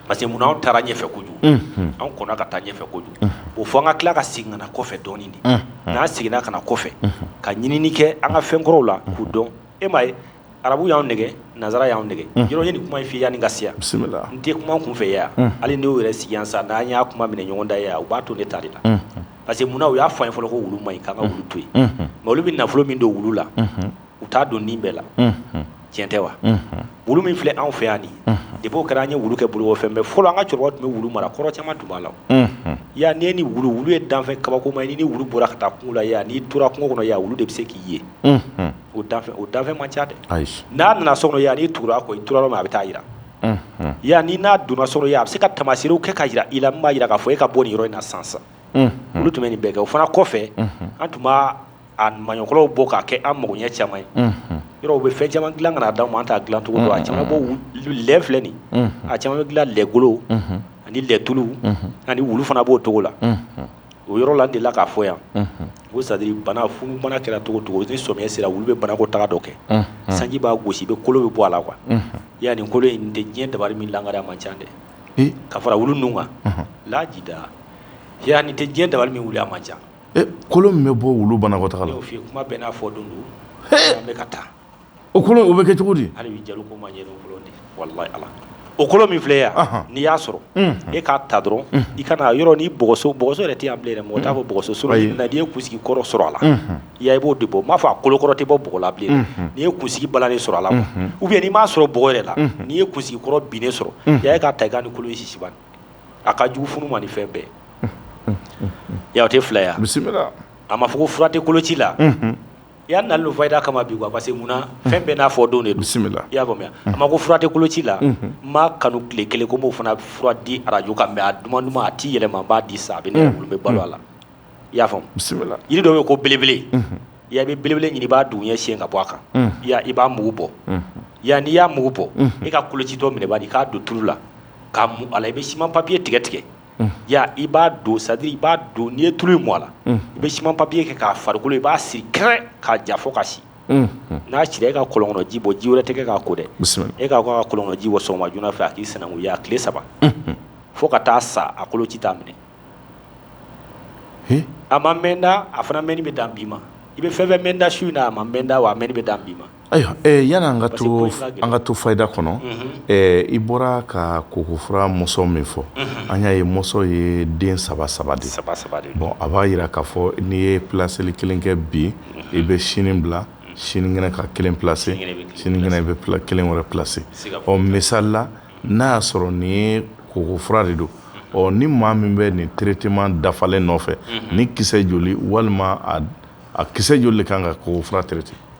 parce que munna anw taara ɲɛfɛ kojugu, unhun, anw kɔnna ka taa ɲɛfɛ kojugu, unhun, bon fo an ka tila ka segin ka na kɔfɛ dɔɔnin de, unhun, n'an seginna ka na kɔfɛ, unhun, ka ɲinini kɛ an ka fɛn kɔrɔw la k'u dɔn, e m'a ye arabu y'an nɛgɛn nansara y'an nɛgɛn yɔrɔ ye nin kuma in f'i ye yanni ka se yan bisimila n tɛ kuma kunfɛ yan hali n'o yɛrɛ sigi yan sa n'an y'a kuma minɛ ɲɔgɔn da yan u b'a to ne ta de la parce que munna u y'a fɔ an ye fɔlɔ ko wulu man ɲi k'an ka wulu to yen nka olu bɛ nafolo min don wulu la u t'a don nin bɛɛ la tiɲɛ tɛ wa wulu min filɛ anw fɛ yan nin depuis o kɛra an ye wu kɛ bolokɔfɛn mɛ fɔlɔ an ka cɛkɔrɔba tun bɛ wulu mara kɔrɔ caman tun b'a la yan ni ni wulu wulu ye danfɛn kabakoma ye ni wulu bɔra ka taa kungo la yan n'i tora kungo kɔnɔ yan wulu de bɛ se k'i ye o o danfɛn man ca dɛ ayi n'a nana so kɔnɔ yan n'i tugura a kɔ i tora yɔrɔ min a bɛ taa jira yan ni n'a donna so kɔnɔ a bɛ se ka tamasiyɛnw kɛ ka jira i la min b'a jira k'a fɔ e ka bɔ yɔrɔ in na sisan olu tun bɛ nin bɛɛ kɛ o fana kɔfɛ an tun b'a maɲɔkɔrɔw bɔ k'a kɛ an mako ɲɛ caman ye yɔrɔ u bɛ fɛn caman dilan ka na d'anw ma an t'a dilancogo dɔn a caman bɔ lɛ filɛ nin a caman bɛ dilan lɛgolo ani lɛtulu ani wulu fana b'o cogo la o yɔrɔ la n delila k'a fɔ yan ko sadiri bana funubana kɛra cogo cogo ni sɔmiɲɛ sera wulu bɛ banakɔtaga dɔ kɛ sanji b'a gosi i bɛ kolo bɛ bɔ a la quoi ya nin kolo in tɛ diɲɛ dabali min lakari a man ca dɛ ka fara wulu ninnu kan lajida ya nin tɛ diɲɛ dabali min wuli a man ca kolo min bɛ bɔ wulu banakɔtaga la kuma bɛɛ n'a fɔ don don an bɛ ka taa O kolo o bɛ kɛ cogo di hali bi ja ko ma ɲɛ ala o kolo min filɛ yan n'i y'a sɔrɔ e k'a ta dɔrɔn i ka na yɔrɔ nin bɔgɔso bɔgɔso yɛrɛ tɛ yan bilen mɔgɔ t'a fɔ bɔgɔso sɔrɔ n'i ye kunsigi kɔrɔ sɔrɔ a la i ya i b'o de bɔ n m'a fɔ a kolokɔrɔ tɛ bɔ bɔgɔ la bilen n'i ye kunsigi balannen sɔrɔ a la ou bien n'i m'a sɔrɔ bɔgɔ yɛrɛ la n'i ye kunsigi kɔrɔ binnen sɔrɔ i k'a ta i k'a ni kolo sisi a ka jugu funu ma ni fɛn bɛɛ ye a tɛ fila yan bisimila a ma fɔ ko fura tɛ koloci la I y'a nali fayida kama bi quoi parce que mun fɛn bɛɛ n'a fɔ don de don bisimila i y'a faamuya a ma ko fura tɛ koloci la n m'a kanu tile kelen ko n b'o fana fura di arajo kan mais a duman duman a t'i yɛlɛma n b'a di sa a bɛ ne bɛ balo a la i y'a faamu bisimila jiri dɔ bɛ yen ko belebele i bɛ belebele ɲini i b'a duguɲɛ siɲɛ ka bɔ a kan i b'a mugu bɔ yan n'i y'a mugu bɔ i ka kolocitɔ minɛ bani k'a don tulu la k'a mu a la i bɛ siman papiye tigɛ tigɛ i b'a don c'est-à-dire i b'a don n'i ye tulu in mu a la i bɛ siman papiye kɛ k'a farikolo i b'a siri kɛrɛ k'a ja fo ka si n'a sira e ka kɔlɔn ji bɔ ji wɛrɛ tɛ k'a ko dɛ e ka ka kɔlɔn ji bɔ sɔgɔma joona fɛ a k'i sananko a tile saba fo ka taa sa a koloci t'a minɛ a ma mɛn da a fana mɛnni bɛ dan bi ma i bɛ fɛn fɛn mɛn da su in na a ma mɛn da wa a mɛnni bɛ dan bi ma Ayiwa yani an ka to fayida kɔnɔ i bɔra ka kokofura mɔsɔn min fɔ an y'a ye mɔsɔn ye den saba saba de bɔ a b'a jira k'a fɔ n'i ye plaseli kelen kɛ bi i bɛ sini bila sinikɛnɛ ka kelen plase sinikɛnɛ i bɛ kelen wɛrɛ plase ɔ misali la n'a y'a sɔrɔ nin ye kokofura de don ɔ ni maa min bɛ nin traitement dafalen nɔfɛ nin kisɛ joli walima a kisɛ joli de kan ka kokofura traiter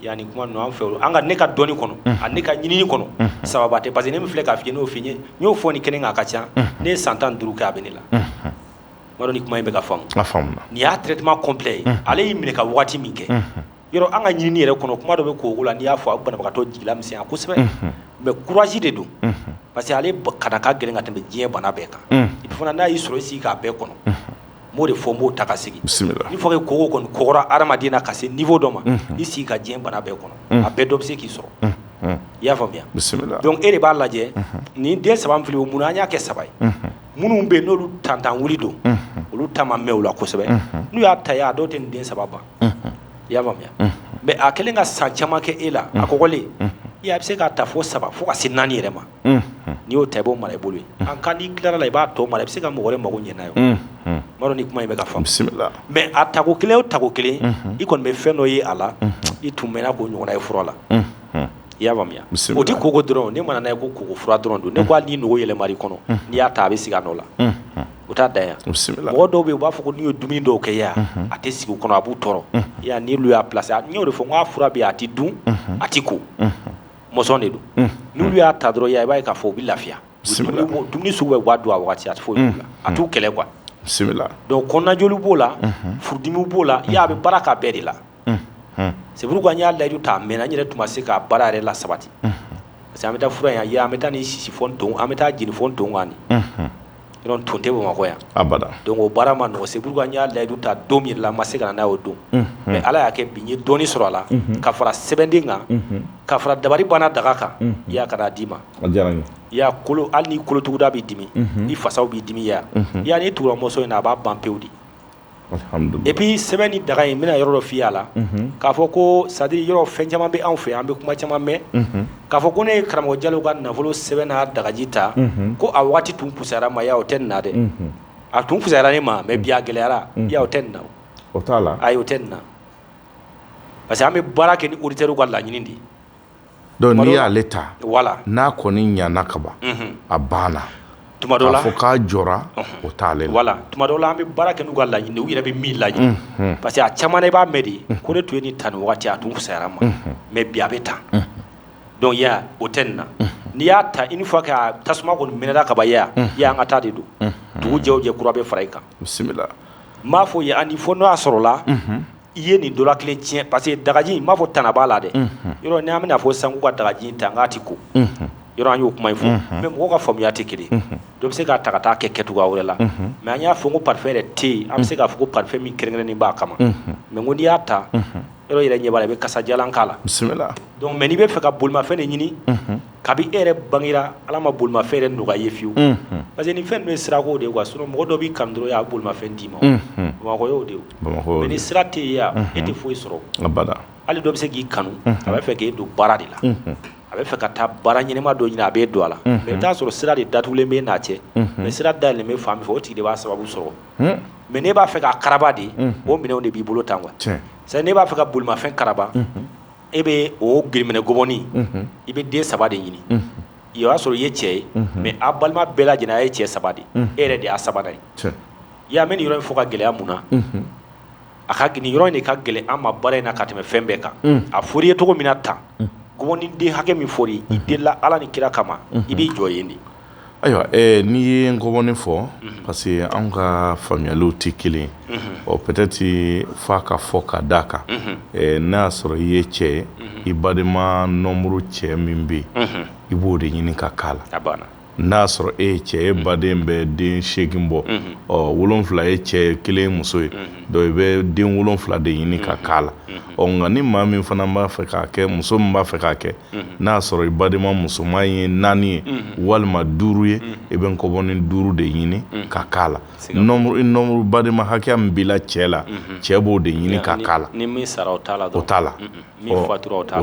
Yani kuma an fɛ an ka ne ka dɔnni kɔnɔ ani ne ka ɲinini kɔnɔ sababu tɛ parce que ne min filɛ k'a f'i ye n'o f'i ye n'o fɔ nin kɛnɛ kan a ka ca ne ye san tan duuru kɛ a bɛ ne la n m'a dɔn ni kuma in bɛ ka faamu nin y'a traitement complet ye ale y'i minɛ ka waati min kɛ yɔrɔ an ka ɲinini yɛrɛ kɔnɔ kuma dɔ bɛ koko la n'i y'a fɔ a banabagatɔ jigi lamisɛnya kosɛbɛ mais courage de don parce que ale kana ka gɛlɛn ka tɛmɛ diɲɛ bana bɛɛ kan et puis fana n'a y'i sɔrɔ i sigi k'a bɛɛ kɔnɔ b'o de fɔ n b'o ta ka sigi n'i fɔ ko koko kɔni kɔgɔra hadamaden na ka se niveau dɔ ma i sigi ka diɲɛ bana bɛɛ kɔnɔ a bɛɛ dɔ bɛ se k'i sɔrɔ i y'a faamuya donc e de b'a lajɛ nin den saba filɛ o munna an y'a kɛ saba ye minnu bɛ yen n'olu tantan wuli don olu ta ma mɛn o la kosɛbɛ n'u y'a ta a dɔw tɛ nin den saba ban i y'a faamuya mais a kɛlen ka san caman kɛ e la a kɔgɔlen i bɛ se k'a ta fo saba fo ka se naani yɛrɛ ma n'i y'o ta i b'o mara i bolo ye an kan n'i tilala i b'a tɔ mara i bɛ se ka mɔgɔ mako ɲɛ n'a ye n m'a dɔn ni kuma in bɛ ka faamu mais a tako kelen o tako kelen i kɔni bɛ fɛn dɔ ye a la i tun mɛnna k'o ɲɔgɔn ye fura la i y'a faamuya o tɛ koko dɔrɔn ne mana ye ko koko fura dɔrɔn don ne ko hali n'i nugu yɛlɛma i kɔnɔ n'i y'a ta a bɛ sigi a nɔ la o t'a dan yan mɔgɔ dɔw bɛ yen u b'a fɔ n'u ye dumuni dɔw kɛ yan a tɛ sigi u kɔnɔ a b'u tɔɔrɔ n'olu y'a plase n y'o de fɔ n ko a fura bɛ yen a tɛ dun a tɛ ko mɔsɔn de don n'olu y'a ta dɔrɔn ya i b'a ye k'a fɔ u bɛ lafiya bisimila dumuni sugu bɛɛ u b'a dun a waati a tɛ fɔ a t'u kɛlɛ quoi bisimila donc kɔnɔnajoli b'o la furudimiw b'o la ya a bɛ baara k'a bɛɛ de la c'est pourquoi an y'a layidu ta mɛnna n yɛrɛ tun ma se k'a baara yɛrɛ lasabati parce que an bɛ taa fura in yan an bɛ taa nin sisi fo nton an bɛ taa jeni fo nton kan Yɔrɔ nton tɛ Bamakɔ yan, abada, donc o baara man nɔgɔn, c'est pourquoi n y'a layidu ta don min yɛrɛ la, n ma se ka na n'a ye o don, unhun, mais Ala y'a kɛ bi n ye dɔɔnin sɔrɔ a la, unhun, ka fara sɛbɛnden kan, unhun, ka fara dabari banna daga kan, unhun, i y'a ye ka n'a d'i ma, a diyara n ye, i y'a ye kolo hali n'i kolotuguda b'i dimi, unhun, n'i fasaw b'i dimi, i y'a ye, unhun, i y'a ye n'i tugura mɔsɔn in na a b'a ban pewu de et puis sɛbɛn ni daga in n bɛna yɔrɔ dɔ f'i y'a la k'a fɔ ko c'est à dire yɔrɔ fɛn caman bɛ anw fɛ an bɛ kuma caman mɛn k'a fɔ ko ne ye karamɔgɔ Jalo ka nafolo sɛbɛn n'a dagaji ta ko a waati tun pusayara ma ya o tɛ nin na dɛ a tun pusayara ne ma mais bi a gɛlɛyara ya o tɛ nin na o t'a la ayi o tɛ nin na parce que an bɛ baara kɛ ni auditeurw ka laɲini de ye Donc n'i y'ale ta voilà n'a kɔni ɲana kaban a banna fo k'a jɔra o t'a la tuma dɔ la an bɛ baara kɛ n'u ka laɲini u yɛrɛ bɛ min laɲini parce que a caman na i b'a mɛn de ko ne tun ye nin ta nin waati a tun pusayara ma mais bi a bɛ tan donc ya o tɛ nin na n'i y'a ta une fois que a tasuma kɔni minɛla kaban ya an ka taa de don dugu jɛ o jɛ kura bɛ fara i kan bisimila n b'a f'i ye fo n'o y'a sɔrɔ la i ye nin dɔ la kelen tiɲɛ parce que dagaji n b'a fɔ tana b'a la dɛ, unhun, yɔrɔ n'an bɛna fɔ sisan k'u ka dagaji in ta nk'a tɛ ko, unhun, yɔrɔ an y'o kuma in fɔ, unhun, mais mɔgɔw ka faamuya tɛ kelen ye, unhun, dɔ bɛ se k'a ta ka taa kɛ kɛcogoya wɛrɛ la, unhun, mais an y'a fɔ ko parfum yɛrɛ tɛ yen an bɛ se k'a fɔ ko parfum min kɛrɛnkɛrɛnnen b'a kama, unhun, mais ko n'i y'a ta, unhun, yɔrɔ i yɛrɛ ɲɛ b'a la i bɛ kasadiyalan k'a la, bisimila, donc mais n'i bɛ fɛ ka bolimafɛn de ɲini, unhun kabi e yɛrɛ bangera Ala ma bolimafɛn yɛrɛ nɔgɔya i ye fiyewu, unhun, parce que nin fɛn ninnu ye sirako de ye quoi sinon mɔgɔ dɔ b'i kanu dɔrɔn a bɛ bolimafɛn d'i ma, unhun, Bamakɔ y'o de ye o, mais ni sira tɛ yen yan e tɛ foyi sɔrɔ, abada, hali dɔ bɛ se k'i kanu a b'a fɛ k'e don baara de la, unhun, a bɛ fɛ ka taa baara ɲɛnama dɔ ɲini a b'e don a la, unhun, mais i bɛ t'a sɔrɔ sira de datugulen b'e n'a cɛ, unhun, mais sira dayɛlɛlen bɛ fan min fɛ o tigi de b'a sababu sɔrɔ, un, mais n'e b'a fɛ k'a karaba de, unhun, o minɛnw de b'i bolo tan quoi, tiɲɛ, c'est à dire n'e b'a fɛ ka bolimafɛn karaba, unhun e bɛ o giriminɛ ngɔbɔnin i bɛ den saba de ɲini i y'a sɔrɔ i ye cɛ ye mais a balima bɛɛ lajɛlen a ye cɛ saba de e yɛrɛ de y'a sabanan ye i y'a mɛn nin yɔrɔ in fɔ ka gɛlɛya mun na a ka nin yɔrɔ in de ka gɛlɛn an ma baara in na ka tɛmɛ fɛn bɛɛ kan a fɔr'i ye cogo min na tan ngɔbɔnin den hakɛ min fɔra i delila ala ni kira kama i b'i jɔ yen de Ayiwa n'i ye ngɔbɔnin fɔ parce que an ka faamuyaliw tɛ kelen ɔ peut-être f'a ka fɔ ka d'a kan n'a y'a sɔrɔ i ye cɛ ye i badenma nombre cɛ min bɛ yen i b'o de ɲini ka k'a la n'a y'a sɔrɔ e ye cɛ ye baden bɛ den segin bɔ ɔ wolon wolonfila ye cɛ kelen muso ye donc i bɛ den wolonfila de ɲini ka k'a la ɔ nka ni maa min fana b'a fɛ k'a kɛ muso min b'a fɛ k'a kɛ n'a y'a sɔrɔ i badenma musoman ye naani ye walima duuru ye i bɛ nkɔbɔnin duuru de ɲini ka k'a la nombre badenma hakɛya min b'i la cɛ la cɛ b'o de ɲini ka k'a la o t'a la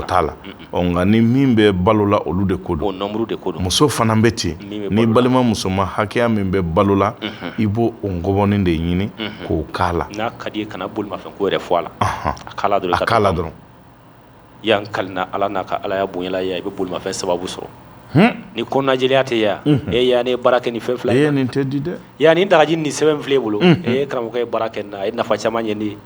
t'a la nka ni min bɛ balo la olu de ko don muso fana bɛ ten ni balima musoman hakɛya min bɛ balo la i b'o o nkɔbɔnin de ɲini k'o k'a la ka kana bolimafɛn ko yɛrɛ fɔ a la dɔrɔn ya n kalila Ala n'a ka Alaya bonya la i bɛ bolimafɛn sababu sɔrɔ, hun, ni kɔnɔnajɛlenya tɛ ya, unhun, ya ne ye baara kɛ ni fɛn fila in na, ee nin tɛ di dɛ, ya nin dagaji ni sɛbɛn filɛ e bolo, unhun, ee karamɔgɔkɛ ye baara kɛ nin na a ye nafa caman ɲɛ ne ye,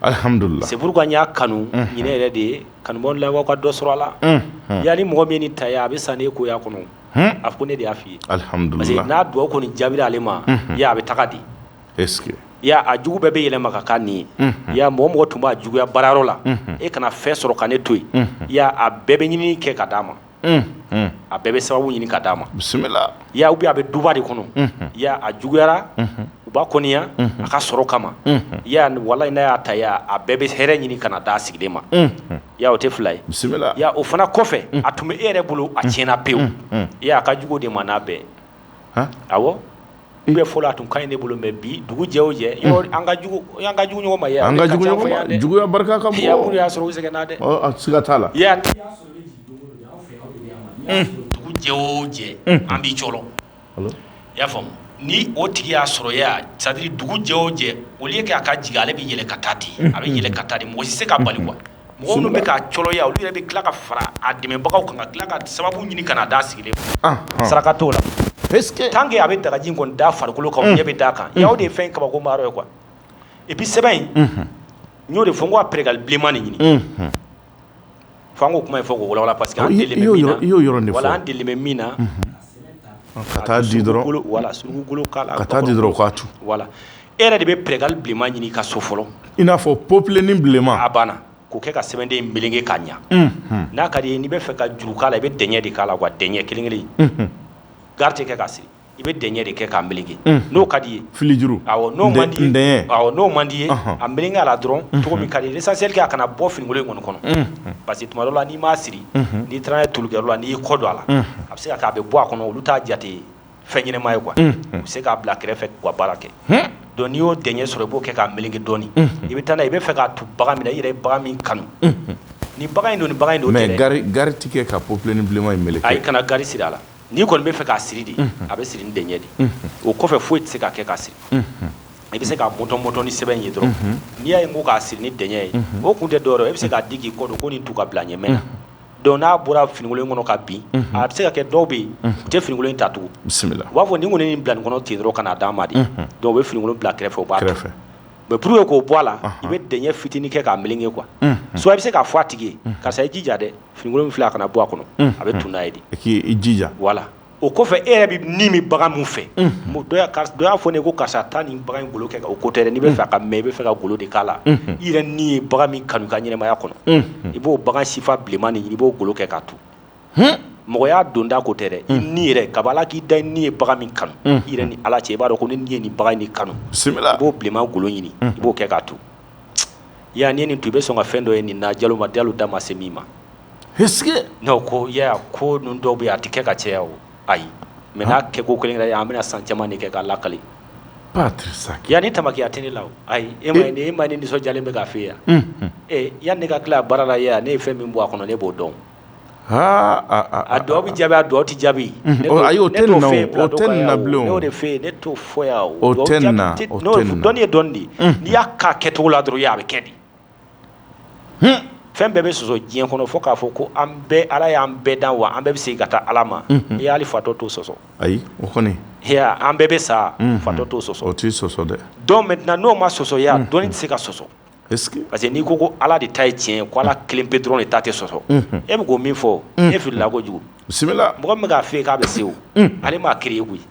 alihamudulila, c'est pourquoi n y'a kanu ɲinɛ yɛrɛ de ye kanubaaw n lamɛnbaaw ka dɔ sɔrɔ a la, unhun, ya ni mɔgɔ min ye nin ta ya a bɛ san n'e ko ye a kɔnɔ, hun, a fɔ ko ne de y'a fɔ i ye, alihamudulila, parce que n'a dugawu kɔni jaabira ale ma, unhun, ya a bɛ taga di a jugu bɛɛ bɛ yɛlɛma ka k'a ɲin ye ya mɔgɔ mɔgɔ tun b'a juguya baarayɔrɔ la e kana fɛn sɔrɔ ka ne to yen a bɛɛ bɛ ɲinini kɛ ka d'a ma a bɛɛ bɛ sababu ɲini ka d'a ma bisimila ya ou bien a bɛ duba de kɔnɔ a juguyara u b'a kɔniya a ka sɔrɔ kama walayi n'a y'a ta a bɛɛ bɛ hɛrɛ ɲini ka na d'a sigilen ma ya o tɛ fila ye bisimila o fana kɔfɛ a tun bɛ e yɛrɛ bolo a tiɲɛna pewu a ka jugu de ma n'a bɛɛ awɔ I bɛ fɔlɔ a tun ka ɲi ne bolo mais bi dugu jɛ o jɛ an ka jugu ɲɔgɔn ma an ka juguya barika ka bon mun y'a sɔrɔ u sɛgɛnna dɛ siga t'a la dugu jɛ o jɛ an b'i cɔɔlɔ i y'a faamu ni o tigi y'a sɔrɔ ya c'est-à-dire dugu jɛ o jɛ au lieu que a ka jigin ale bɛ yɛlɛ ka taa ten a bɛ yɛlɛ ka taa ten mɔgɔ si tɛ se k'a bali quoi minnu bɛ k'a cɔɔlɔ ya olu yɛrɛ bɛ tila ka fara a dɛmɛbagaw kan ka tila ka sababu ɲini ka na d'a sigilen saraka t'o la tant que a bɛ dagaji kɔni d'a farikolo kan ɲɛ bɛ d'a kan ya o de ye fɛn kabakoma yɔrɔ ye quoi et puis sɛbɛn in n y'o de fɔ n ko a pɛrɛkali bilenman nin ɲini fo an k'o kuma in fɔ k'o walawala parce que an delilen bɛ min na Ka di dɔrɔn wala ka di dɔrɔn k'a tu wala e yɛrɛ de bɛ pɛrɛkali bilenman ɲini ka so fɔlɔ i n'a fɔ popilini bilenman a banna k'o kɛ ka sɛbɛnden meleke k'a ɲɛ n'a ka d'i ye n'i bɛ fɛ ka juru k'a la i bɛ dɛɲɛ de k'a la quoi dɛɲɛ kelen kelen gari tɛ kɛ k'a siri i bɛ dɛɲɛ de kɛ k'a meleke n'o ka d'i ye filijuru n'o man di n'o man d'i ye a meleke a la dɔrɔn cogo min ka d'i ye l'essentiel que a kana bɔ finikolon in kɔni kɔnɔ parce que tuma dɔ la n'i m'a siri n'i taara n'a ye tulikɛyɔrɔ la n'i y'i kɔ don a la A bɛ se ka kɛ a bɛ bɔ a kɔnɔ olu t'a jate fɛn ɲɛnama ye quoi u bɛ se k'a bila kɛrɛfɛ k'u ka baara kɛ donc n'i y'o dɛɲɛ sɔrɔ i b'o kɛ k'a meleke dɔɔnin i bɛ taa n'a ye i bɛ fɛ k'a tu bagan min na i yɛrɛ ye bagan min kanu ni bagan in don ni bagan in don mais gari tɛ kɛ ka popilini bilenman in meleke ayi kana gari siri a la n'i kɔni bɛ fɛ k'a siri de a bɛ siri ni dɛɲɛ de o kɔfɛ foyi tɛ se ka kɛ k'a siri i bɛ se k'a mɔtɔmɔtɔ ni sɛbɛn ye dɔrɔn n'i y'a ye ko k'a siri ni dɛɲɛ ye o kun tɛ dɔwɛrɛ ye i bɛ se k'a di k'i kɔ don ko nin tu ka bila ɲɛmɛ donc n'a bɔra finikolon kɔnɔ ka bin a bɛ se ka kɛ dɔw bɛ yen u tɛ finikolon ta tugun bisimila u b'a fɔ ni kɔni nin bila nin kɔnɔ ten dɔrɔn ka n'a d'a ma de donc u bɛ finikolon bila kɛrɛfɛ o b'a kɛrɛfɛ mais pour que k'o bɔ a la i bɛ dɛɲɛ fitinin kɛ k'a meleke quoi soit i bɛ se k'a fɔ a tigi ye karisa i jija dɛ finikolon min filɛ a kana bɔ a kɔnɔ a bɛ tugu n'a ye de k'i jija voilà o kɔfɛ e yɛrɛ bɛ ni min bagan min fɛ dɔ y'a fɔ ne ko karisa taa nin bagan in golo kɛ o ko tɛ dɛ n'i bɛ fɛ ka mɛ i bɛ fɛ ka golo de k'a la i yɛrɛ ni ye bagan min kanu i ka ɲɛnamaya kɔnɔ i b'o bagan sifa bilenman nin ɲini i b'o golo kɛ k'a tugu mɔgɔ y'a don da ko tɛ dɛ i ni yɛrɛ kaba ala k'i da i ni ye bagan min kanu i yɛrɛ ni ala cɛ i b'a dɔn ko ne ni ye nin bagan in kanu i b'o bilenman golo ɲini i b'o kɛ k'a tugu Ya n'i ye nin tugu i bɛ sɔn ka fɛn dɔ ye nin na jalo madi alu da ma se min ma ko ya ko ninnu dɔw bɛ yen a tɛ kɛ ka caya o ayi mais n'a kɛ ko kelen yɛrɛ an bɛna san caman de kɛ k'a lakali yan ni tamakiya tɛ ne la ayi e ma e ma ni nisɔn nisɔndiyalen bɛ k'a fɛ yan ee yanni ne ka tila a baara la ya ne ye fɛn min bɔ a kɔnɔ ne b'o dɔn a dɔw bɛ jaabi a dɔw tɛ jaabi ayi o tɛ nin na bilen ne y'o de fɛ yen ne t'o fɔ yan o tɛ nin na dɔnni ye dɔnni de ye n'i y'a k'a kɛcogo la dɔrɔn a bɛ kɛ de fɛn bɛɛ bɛ sɔsɔ diɲɛ kɔnɔ fo k'a fɔ ko an bɛɛ ala y'an bɛɛ dan wa an bɛɛ bɛ segin ka taa ala ma ya hali fatɔ t'o sɔsɔ ayi o kɔni an bɛɛ bɛ sa fatɔ t'o sɔsɔ o tɛ sɔsɔ dɛ donc maintenant n'o ma sɔsɔ ya dɔnni tɛ se ka sɔsɔ parce que n'i ko ko ala de ta ye tiɲɛ ye ko ala kelen pe dɔrɔn de ta tɛ sɔsɔ e bɛ ko min fɔ e filila kojugu bisimila mɔgɔ min bɛ k'a f'e ye k'a bɛ se o ale m'a créé koyi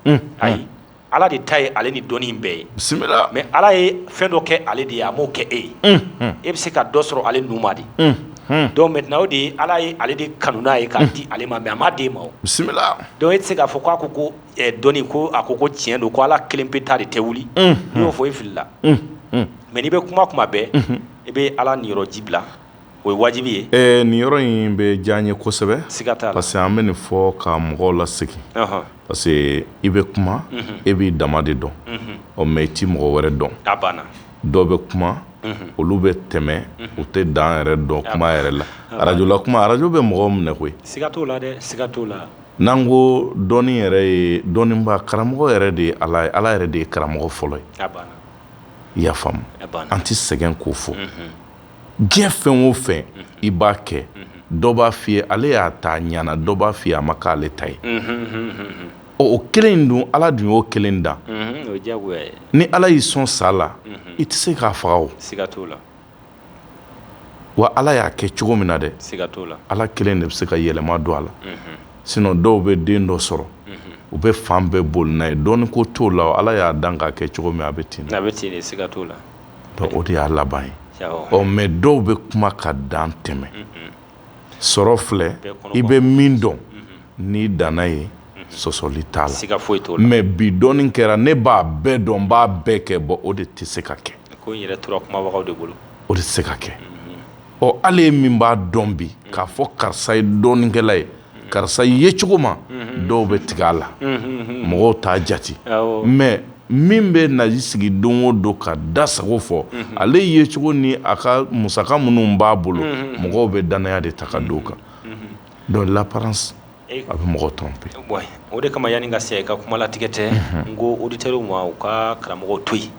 ayi ala de ta ye ale ni dɔnni bɛɛ ye bisimila mais ala ye fɛn dɔ kɛ ale de ye a m'o kɛ e ye e bɛ se ka dɔ sɔrɔ ale numa de donc maintenant o de ye ala ye ale de kanu n'a ye k'a di ale ma mais a m'a d'e ma bisimila donc e tɛ se k'a fɔ k'a ko ko dɔnni ko a ko ko tiɲɛ don ko ala kelen pe ta de tɛ wuli n'i y'o fɔ i filila mais n'i bɛ kuma kuma bɛɛ i bɛ ala niyɔrɔ ji bila o ye wajibi ye ɛ nin yɔrɔ in bɛ diya n ye kosɛbɛ siga t'a la parce que an bɛ nin fɔ ka mɔgɔw lasegin parce que i bɛ kuma e b'i dama de dɔn ɔ mais i tɛ mɔgɔ wɛrɛ dɔn a banna dɔw bɛ kuma olu bɛ tɛmɛ u tɛ dan yɛrɛ dɔn kuma yɛrɛ la arajo la kuma arajo bɛ mɔgɔ minɛ koyi siga t'o la dɛ siga t'o la N'an ko dɔnni yɛrɛ ye dɔnniba karamɔgɔ yɛrɛ de ye ala ye ala yɛrɛ de ye karamɔgɔ fɔlɔ ye i y'a faamu an tɛ sɛgɛn k'o fɔ diɲɛ fɛn o fɛn i b'a kɛ dɔ b'a f'i ye ale y'a ta a ɲana dɔ b'a f'i ye a ma k'ale ta ye ɔ o kelen in don ala dun y'o kelen dan ni ala y'i sɔn sa la i tɛ se k'a faga o wa ala y'a kɛ cogo min na dɛ ala kelen de bɛ se ka yɛlɛma don a la sinon dɔw bɛ den dɔ sɔrɔ u bɛ fan bɛɛ boli n'a ye dɔnni ko t'o la ala y'a dan k'a kɛ cogo min a bɛ ten o de y'a laban ye ɔ mais dɔw bɛ kuma ka dan tɛmɛ sɔrɔ filɛ i bɛ min dɔn n'i danna ye sɔsɔli t'a la foyi mais bi dɔnni kɛra ne b'a bɛɛ dɔn n b'a bɛɛ kɛ bon o de tɛ se ka kɛ o de tɛ se ka kɛ ɔ ale ye min b'a dɔn bi k'a fɔ karisa ye dɔnnikɛla ye karisa yecogo ma dɔw bɛ tigɛ a la mɔgɔw t'a jate mais min bɛ na i sigi don o don k'a da sago fɔ ale yecogo ni a ka musaka minnu b'a bolo mɔgɔw bɛ dannaya de ta ka d'o kan donc l'apparence a bɛ mɔgɔ tromper o de kama yanni ka se ka kuma latigɛ tɛ n ko auditeurs ma u ka karamɔgɔ to yen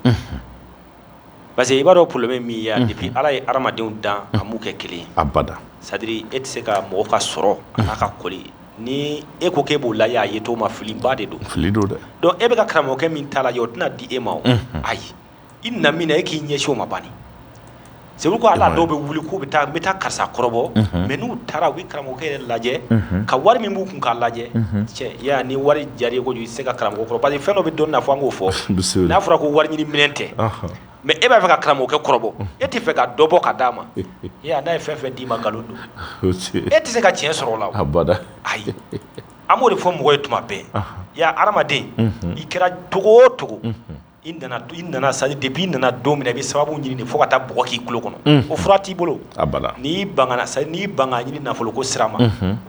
parce que i b'a dɔn problème ye min ye a depuis Ala ye hadamadenw dan a m'u kɛ kelen ye abada c'est à dire e tɛ se ka mɔgɔ ka sɔrɔ a n'a ka kɔli ni e ko k'e b'o lajɛ a yecogo ma filiba de don fili don dɛ donc e bɛ ka karamɔgɔkɛ min ta lajɛ o tɛna di e ma o ayi i na min na e k'i ɲɛsin o ma bani c'est pourquoi ala dɔw bɛ wuli k'u bɛ taa n bɛ taa karisa kɔrɔbɔ mais n'u taara u bɛ karamɔgɔkɛ yɛrɛ lajɛ ka wari min b'u kun k'a lajɛ cɛ ni wari diyara i ye kojugu i tɛ se ka karamɔgɔ kɔrɔbɔ parce que fɛn dɔ bɛ dɔnni na fo an k'o fɔ n'a fɔra ko wari ɲini minɛn tɛ mais e b'a fɛ ka karamɔgɔkɛ kɔrɔbɔ e tɛ fɛ ka dɔ bɔ ka d'a ma e n'a ye fɛn fɛn d'i ma nkalon don e tɛ se ka tiɲɛ sɔrɔ o la abada ayi an b'o de fɔ mɔgɔ ye tuma bɛɛ ya hadamaden i kɛra cogo o cogo i nana i nana c'est à dire depuis i nana don min na i bɛ sababu ɲini de fo ka taa bɔgɔ k'i tulo kɔnɔ o fura t'i bolo n'i ban n'i ban k'a ɲini nafolo ko sira ma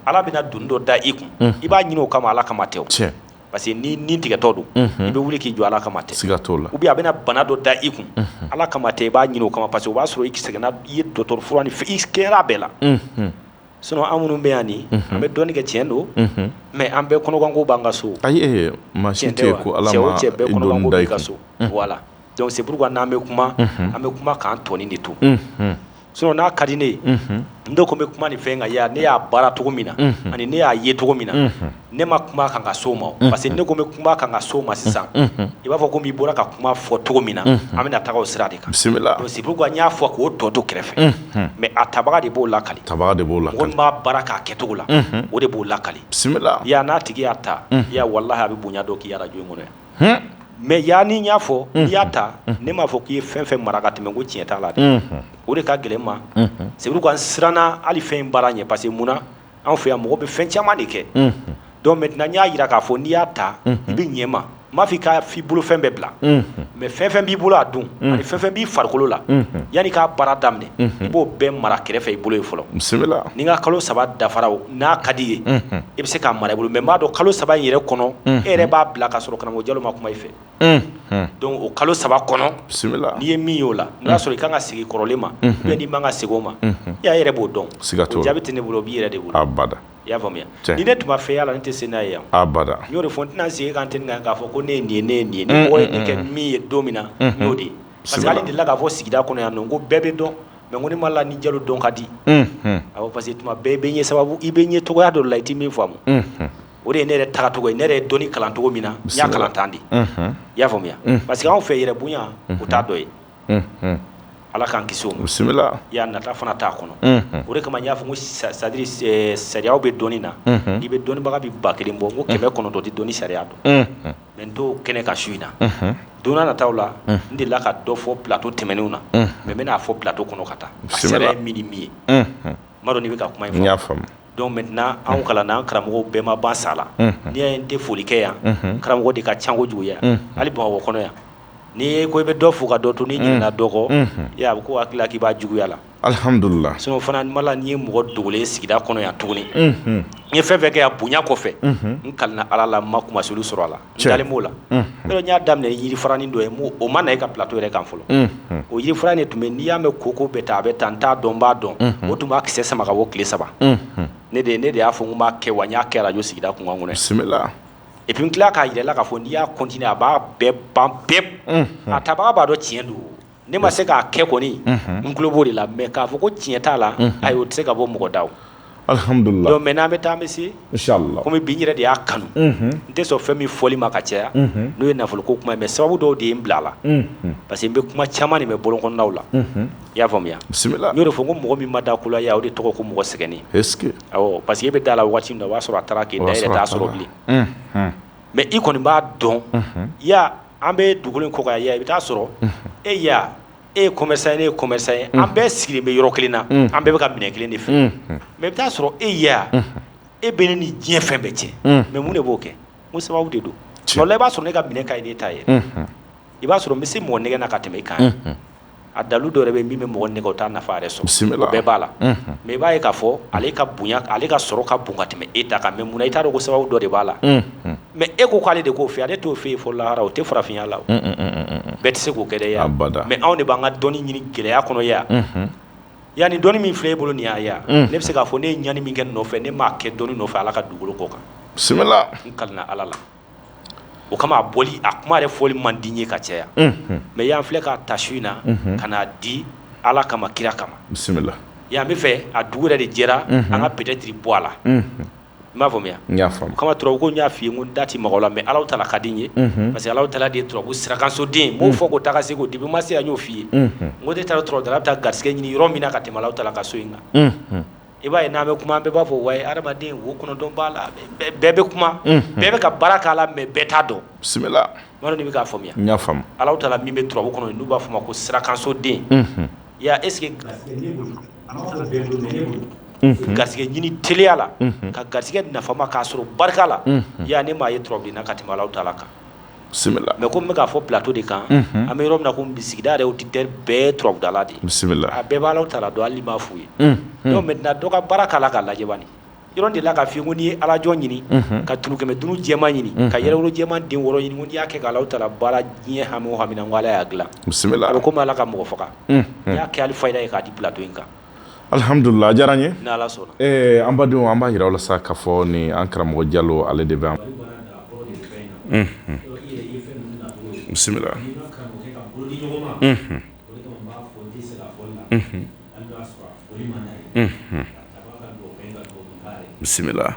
ala bɛna doni dɔ da i kun i b'a ɲini o kama ala kama tɛ o cɛ parce que ni ni tigɛtɔ don i bɛ wuli k'i jɔ ala kama tɛ siga t'o la ou bien a bɛna bana dɔ da i kun ala kama tɛ i b'a ɲini o kama parce que o b'a sɔrɔ i sɛgɛnna i ye dɔgɔtɔrɔ fura ni i kɛra bɛɛ la sinon an minnu bɛ yan nin an bɛ dɔnni kɛ tiɲɛ don mais an bɛɛ kɔnɔganko b'an ka so ayi maa si tɛ yen ko ala cɛ bɛɛ kɔnɔganko b'i ka so voilà donc c'est pourquoi n'an bɛ kuma an bɛ kuma k'an tɔnin de to sinon n'a ka di ne ye n de ko n bɛ kuma nin fɛn kan yan ne y'a baara cogo min na ani ne y'a ye cogo min na ne ma kuma kan ka so ma parce que ne ko n bɛ kuma kan ka so ma sisan i b'a fɔ ko n'i bɔra ka kuma fɔ cogo min na an bɛna taa o sira de kan bisimila c'est pourquoi n y'a fɔ k'o tɔ to kɛrɛfɛ mais a tabaga de b'o lakali tabaga de b'o lakali min b'a baara k'a kɛcogo la o de b'o lakali bisimila yan n'a tigi y'a ta ya wallahi a bɛ bonya dɔ k'i arajo in kɔnɔ mais yan ni n y'a fɔ n'i y'a ta ne m'a fɔ k'i ye fɛn fɛn mara ka tɛmɛ ko tiɲɛ t'a la dɛ o de ka gɛlɛn ma c'est pourquoi n siranna hali fɛn in baara ɲɛ parce que mun anw fɛ yan mɔgɔ bɛ fɛn caman de kɛ donc maintenant n y'a jira k'a fɔ n'i y'a ta i bɛ ɲɛ mais n m'a fɔ i ka f'i bolo fɛn bɛɛ bila mais fɛn fɛn b'i bolo a don ani fɛn fɛn b'i farikolo la yanni k'a baara daminɛ i b'o bɛɛ mara kɛrɛfɛ i bolo ye fɔlɔ bisimila ni n ka kalo saba dafara o n'a ka d'i ye i bɛ se k'a mara i bolo mais n b'a dɔn kalo saba in yɛrɛ kɔnɔ e yɛrɛ b'a bila ka sɔrɔ karamɔgɔ Jalo ma kuma i fɛ donc o kalo saba kɔnɔ bisimila n'i ye min y'o la n y'a sɔrɔ i ka kan ka segin kɔrɔlen ma ou bien n'i man ka segin o ma i ya yɛrɛ b'o dɔn siga t'o la jaabi tɛ ne bolo o b'i yɛrɛ de bolo bada i y'a faamuya ni ne tun ma fɛn y'a la n tɛ se n'a ye yan bada n y'o de fɔ n tɛna segin kan tɛ kan k'a fɔ ko ne ye nin ye ne ye nin ye ne ye kɛ min ye don min na n'o de ye parce que hali delila k'a fɔ sigida kɔnɔ yan ko bɛɛ bɛ dɔn mais ko ne ma la ni jalo dɔn ka di a parce que tuma bɛɛ i bɛ ɲɛ sababu i bɛ ɲɛ cogoya dɔ la i tɛ min faamu o de ye ne yɛrɛ tagacogo ye ne yɛrɛ ye dɔni kalan cogo min na n y'a kalan tan de i y'a faamuya parce que anw fɛ yɛrɛbonya o t'a dɔ ye ala k'an kisi bisimila i y'a nata fana t'a kɔnɔ o de kama n y'a fɔ c'est à dire sariya bɛ dɔni na i bɛ dɔnnibaga bɛ ba kelen bɔ ko kɛmɛ kɔnɔntɔn tɛ dɔni sariya dɔn mais n t'o kɛnɛ kan su in na don nataw la n delila ka dɔ fɔ plateau tɛmɛnenw na mais n bɛn'a fɔ plateau kɔnɔ ka taa sariya ye min ni min ye N'i bɛ ka kuma in faamuya donc maintenant anw kalanna an karamɔgɔw bɛɛ ma ban sa la n'i y'a ye n tɛ foli kɛ yan karamɔgɔ de ka ca kojugu yan hali bamakɔ kɔnɔ yan n'i ye ko i bɛ dɔ fo ka dɔ to n'i ɲinɛna dɔ kɔ a bɛ kɛ a hakili la k'i b'a juguya la alihamdulila sinon fana mala n'i ye mɔgɔ dogolen sigida kɔnɔ yan tuguni n ye fɛn fɛn kɛ yan bonya kɔfɛ n kalina ala la n ma kunmasuli sɔrɔ a la b'o la n y'a daminɛ ni yiri faranin dɔ ye o ma na e ka plateau yɛrɛ kan fɔlɔ o yiri fara de tun bɛ n'i y'a mɛn koko bɛ taa a bɛ taa n t'a dɔn n b'a dɔn o tun b'a kisɛ sama ka bɔ tile saba ne de ne de y'a fɔ n b'a kɛ wa n y'a kɛ arajo sigida kunkan kɔnɔ bisimila et puis n tila k'a yira a la k'a fɔ n'i y'a continuer a b'a bɛɛ ban pewu a tabaga b'a dɔn tiɲɛ don Ne ma se k'a kɛ kɔni n tulo b'o de la mais k'a fɔ ko tiɲɛ t'a la ayi o tɛ se ka bɔ mɔgɔ da donc maintenant an bɛ taa an bɛ se kɔmi bi n yɛrɛ de y'a kanu n tɛ sɔn fɛn min fɔli ma ka caya n'o ye nafolo ko kuma ye mais sababu dɔw de ye n bila a la parce que n bɛ kuma caman de mɛn bɔlɔn kɔnɔnaw la i y'a faamuya bisimila n y'o de fɔ ko mɔgɔ min ma da ko la yan o de tɔgɔ ko mɔgɔ sɛgɛnnen parce que e bɛ da la waati min na o y'a sɔrɔ a taara k'i dan i t'a sɔrɔ bilen mais i kɔni b'a dɔn an bɛ dugukolo in kɔ kan ya i bɛ taa sɔrɔ e ya e ye commerçant ye ne ye commerçant ye an bɛɛ sigilen bɛ yɔrɔ kelen na an bɛɛ bɛ ka minɛn kelen de feere mais i bɛ taa sɔrɔ e ya e bɛ ne ni diɲɛ fɛn bɛɛ cɛ mais mun de b'o kɛ ko sababu de don wala i b'a sɔrɔ ne ka minɛn ka ɲi n'e ta ye i b'a sɔrɔ n bɛ se mɔgɔ nɛgɛn na ka tɛmɛ i kan a dalu dɔ yɛrɛ bɛ min bɛ mɔgɔ nɛgɛn o t'a nafa yɛrɛ sɔrɔ bisimila bɛɛ b'a la mais i b'a ye k'a fɔ ale ka bonya ale ka sɔrɔ ka bon ka tɛmɛ e ta kan mais munna i t'a dɔn ko sababu dɔ de b'a la mais e ko k'ale de k'o fɛ ale t'o fɔ e ye fɔ lahara o tɛ farafinya la bɛɛ tɛ se k'o kɛ yan bada mais anw de b'an ka dɔnni ɲini gɛlɛya kɔnɔ ya yan ni dɔnni min filɛ e bolo nin ya ne bɛ se k'a fɔ ne ye ɲani min kɛ nɔfɛ ne m'a kɛ dɔnni nɔfɛ ala ka dugukolo kɔ kan bisimila ka ala la o kama a bɔli a kuma yɛrɛ fɔli man di n ye ka caya mais y'an filɛ k'a ta su in na ka n'a di ala kama kira kama bisimila yan bɛ fɛ a dugu yɛrɛ de jɛra an ka peut-être bɔ a la i m'a faamuya o kama turabu ko n y'a f'i ye ko n da ti maga a la mais Alahu taala ka di n ye parce que Alahu taala de turabu sirakansoden b'o fɔ ko taa se ko depuis ma se n y'o f'i ye o de taara turabudala bɛ taa garisɛgɛ ɲini yɔrɔ min na ka tɛmɛ Alahu taala ka so in kan i b'a ye n'an bɛ kuma an bɛɛ b'a fɔ wayi hadamaden wo kɔnɔntɔn b'a la bɛɛ bɛ kuma bɛɛ bɛ ka baara k'a la mais bɛɛ t'a dɔn bisimila n b'a dɔn n'i bɛ k'a faamuya n y'a faamu Alahu taala min bɛ turabu kɔnɔ n'u b'a fɔ o ma ko sirakansoden ya est ce que garisɛgɛ ɲini teliya la ka garisɛgɛ nafama k'a sɔrɔ barika la ya ne m'a ye turabuden na ka tɛmɛ Alahu taala kan. bisimila mais comme n bɛ k'a fɔ plateau de kan an bɛ yɔrɔ min na ko sigida yɛrɛ auditeur bɛɛ turabudala de bisimila a bɛɛ bɛ Alahu taala dɔn hali n'i m'a f'u ye maintenant dɔ ka baara k'a la k'a lajɛ bani yɔrɔ de la k'a f'i ye ko n'i ye alajɔ ɲini ka tunu kɛmɛ dunu jɛma ɲini ka yɛrɛwolo jɛma den wɔɔrɔ ɲini n'i y'a kɛ k'Alahu taala baara diɲɛ hami o hami na ko Ala y'a dilan bisimila a bɛ komi Ala ka mɔgɔ faga n'i y'a kɛ ali fayida ye k'a di plateau in kan Alihamdulila a diyara n ye an badenw an b'a yira aw la sa k'a fɔ ni an karamɔgɔ jalo ale de bɛ an bisimila bisimila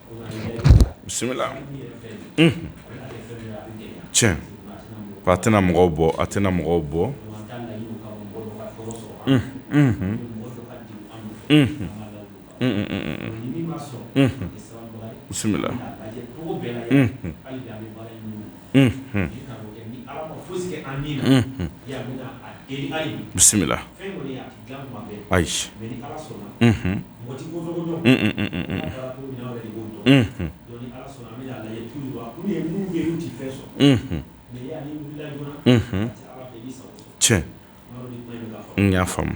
bisimila tiɲɛ a tɛna mɔgɔw bɔ a tɛna mɔgɔw bɔ bisimila bisimila ayi tiɲɛ n y'a faamu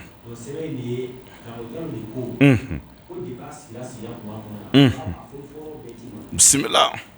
bisimila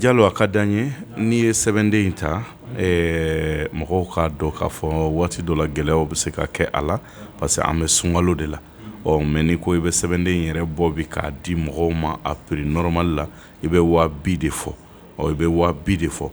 jalo a ka di an ye n'i ye sɛbɛnden in ta mɔgɔw k'a dɔn k'a fɔ waati dɔ la gɛlɛyaw bɛ se ka kɛ a la parce que an bɛ sunkalo de la ɔ mais n'i ko i bɛ sɛbɛnden in yɛrɛ bɔ bi k'a di mɔgɔw ma a prix normal la i bɛ waa bi de fɔ i bɛ waa bi de fɔ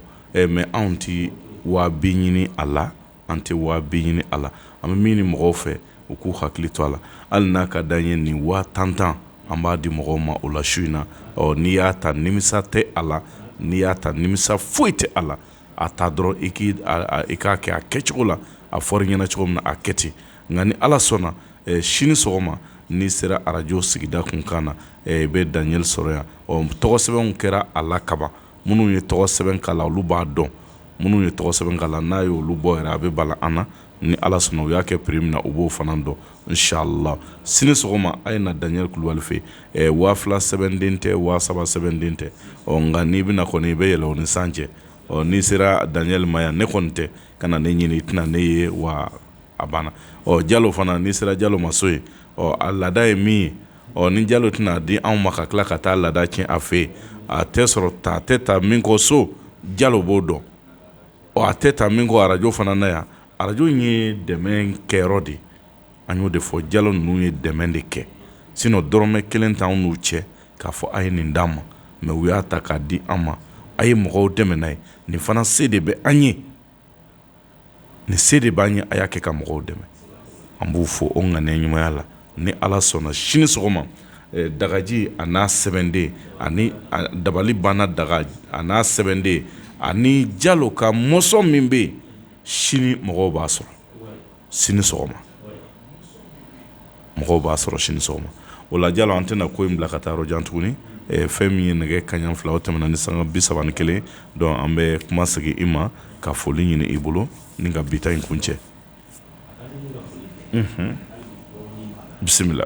mais anw tɛ waa bi ɲini a la An tɛ waa bi ɲini a la. An bɛ min ɲini mɔgɔw fɛ, u k'u hakili to a la. Hali n'a ka d'an ye nin waa tan tan, an b'a di mɔgɔw ma o la su in na. Ɔ, n'i y'a ta, nimisa tɛ a la. N'i y'a ta, nimisa foyi tɛ a la. A ta dɔrɔn, i k'i a i k'a kɛ a kɛcogo la, a fɔra i ɲɛna cogo min na, a kɛ ten. Nka ni Ala sɔnna, ɛ sini sɔgɔma, n'i sera arajo sigida kunkan na, ɛ i bɛ Daniel sɔrɔ yan. Ɔ, tɔgɔsɛbɛnw kɛra a la kaban. minnu ye tɔgɔ sɛbɛn k'a la olu b'a dɔn minnu ye tɔgɔ sɛbɛn k'a la n'a ye olu bɔ yɛrɛ a bɛ bala an na ni ala sɔnna u y'a kɛ prix min na u b'o fana dɔn inshallah sini sɔgɔma a ye na daniel kulubali fɛ ɛ waa fila sɛbɛnden tɛ waa saba sɛbɛnden tɛ ɔ nka n'i bɛ na kɔni i bɛ yɛlɛ o ni san cɛ ɔ n'i sera daniel ma yan ne kɔni tɛ kana ne ɲini i tɛna ne ye wa a banna ɔ jalo fana n'i sera jalo ma so yen ɔ a laada ye min ye ɔ ni jalo tɛn'a di anw ma ka tila ka taa laada tiɲɛ a fɛ yen a tɛ sɔrɔ ta tɛ ta min kɔ so jalo b'o dɔn ɔ a tɛ ta min kɔ arajo fana na yan arajo in ye dɛmɛ kɛyɔrɔ de an y'o de fɔ jalo ninnu ye dɛmɛ de kɛ sinon dɔrɔmɛ kelen t'anw n'u cɛ k'a fɔ a ye nin d'an ma mais u y'a ta k'a di an ma a ye mɔgɔw dɛmɛ n'a ye nin fana se de bɛ an ye nin se de b'an ye a y'a kɛ ka mɔgɔw dɛmɛ an b'u fo o ŋaniya ɲumanya la ni ala sɔnna sini sɔgɔma dagaji a n'a sɛbɛnden ani dabali banna daga a n'a sɛbɛnden ani jalo ka mɔsɔn min bɛ yen sini mɔgɔw b'a sɔrɔ sini sɔgɔma mɔgɔw b'a sɔrɔ sini sɔgɔma o la jalo an tɛna ko in bila ka taa yɔrɔ jan tuguni fɛn min ye nɛgɛ kaɲa fila o tɛmɛna ni sanga bi saba ni kelen donc an bɛ kuma segin i ma ka foli ɲini i bolo ni ka bi ta in kuncɛ bisimila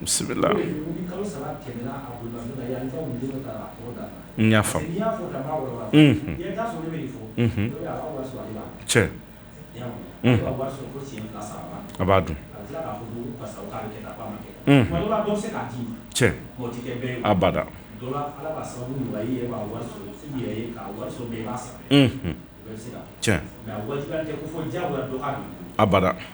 bisimila a b'a dun abada abada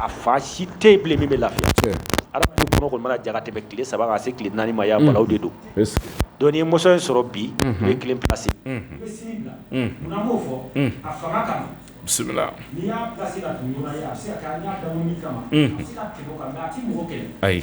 a fa si tɛ min bɛ lafi kɔnɔ jara tɛmɛ tile saba se tile naani maya de don don ye muso in sɔrɔ bi u ye kelen plasi ayi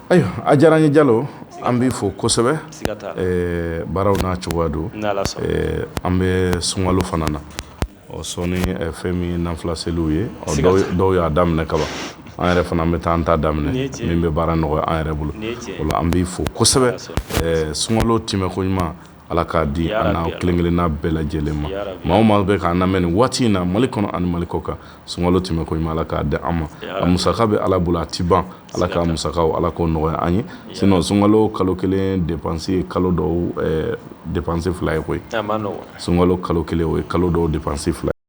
Ayiwa a diyara n ye Jalo an b'i fo kosɛbɛ baaraw n'a cogoya don an bɛ sunkalo fana na ɔ sɔɔni fɛn min ye nafila seliw ye dɔw y'a daminɛ kaban an yɛrɛ fana an bɛ taa an ta daminɛ min bɛ baara nɔgɔya an yɛrɛ bolo o la an b'i fo kosɛbɛ sunkalo tɛmɛko ɲuman Ala k'a di an na kelen kelenna bɛɛ lajɛlen ma maa o maa bɛ k'an lamɛn nin waati in na mali kɔnɔ ani mali kɔkan sunkalo tɛmɛnko ɲuman ala k'a di an ma a musaka bɛ ala bolo a tɛ ban ala k'a musakaw ala k'o nɔgɔya an ye sinon sunkalo kalo kelen dépense ye kalo dɔw dépense fila ye koyi sunkalo kalo kelen o ye kalo dɔw dépense fila ye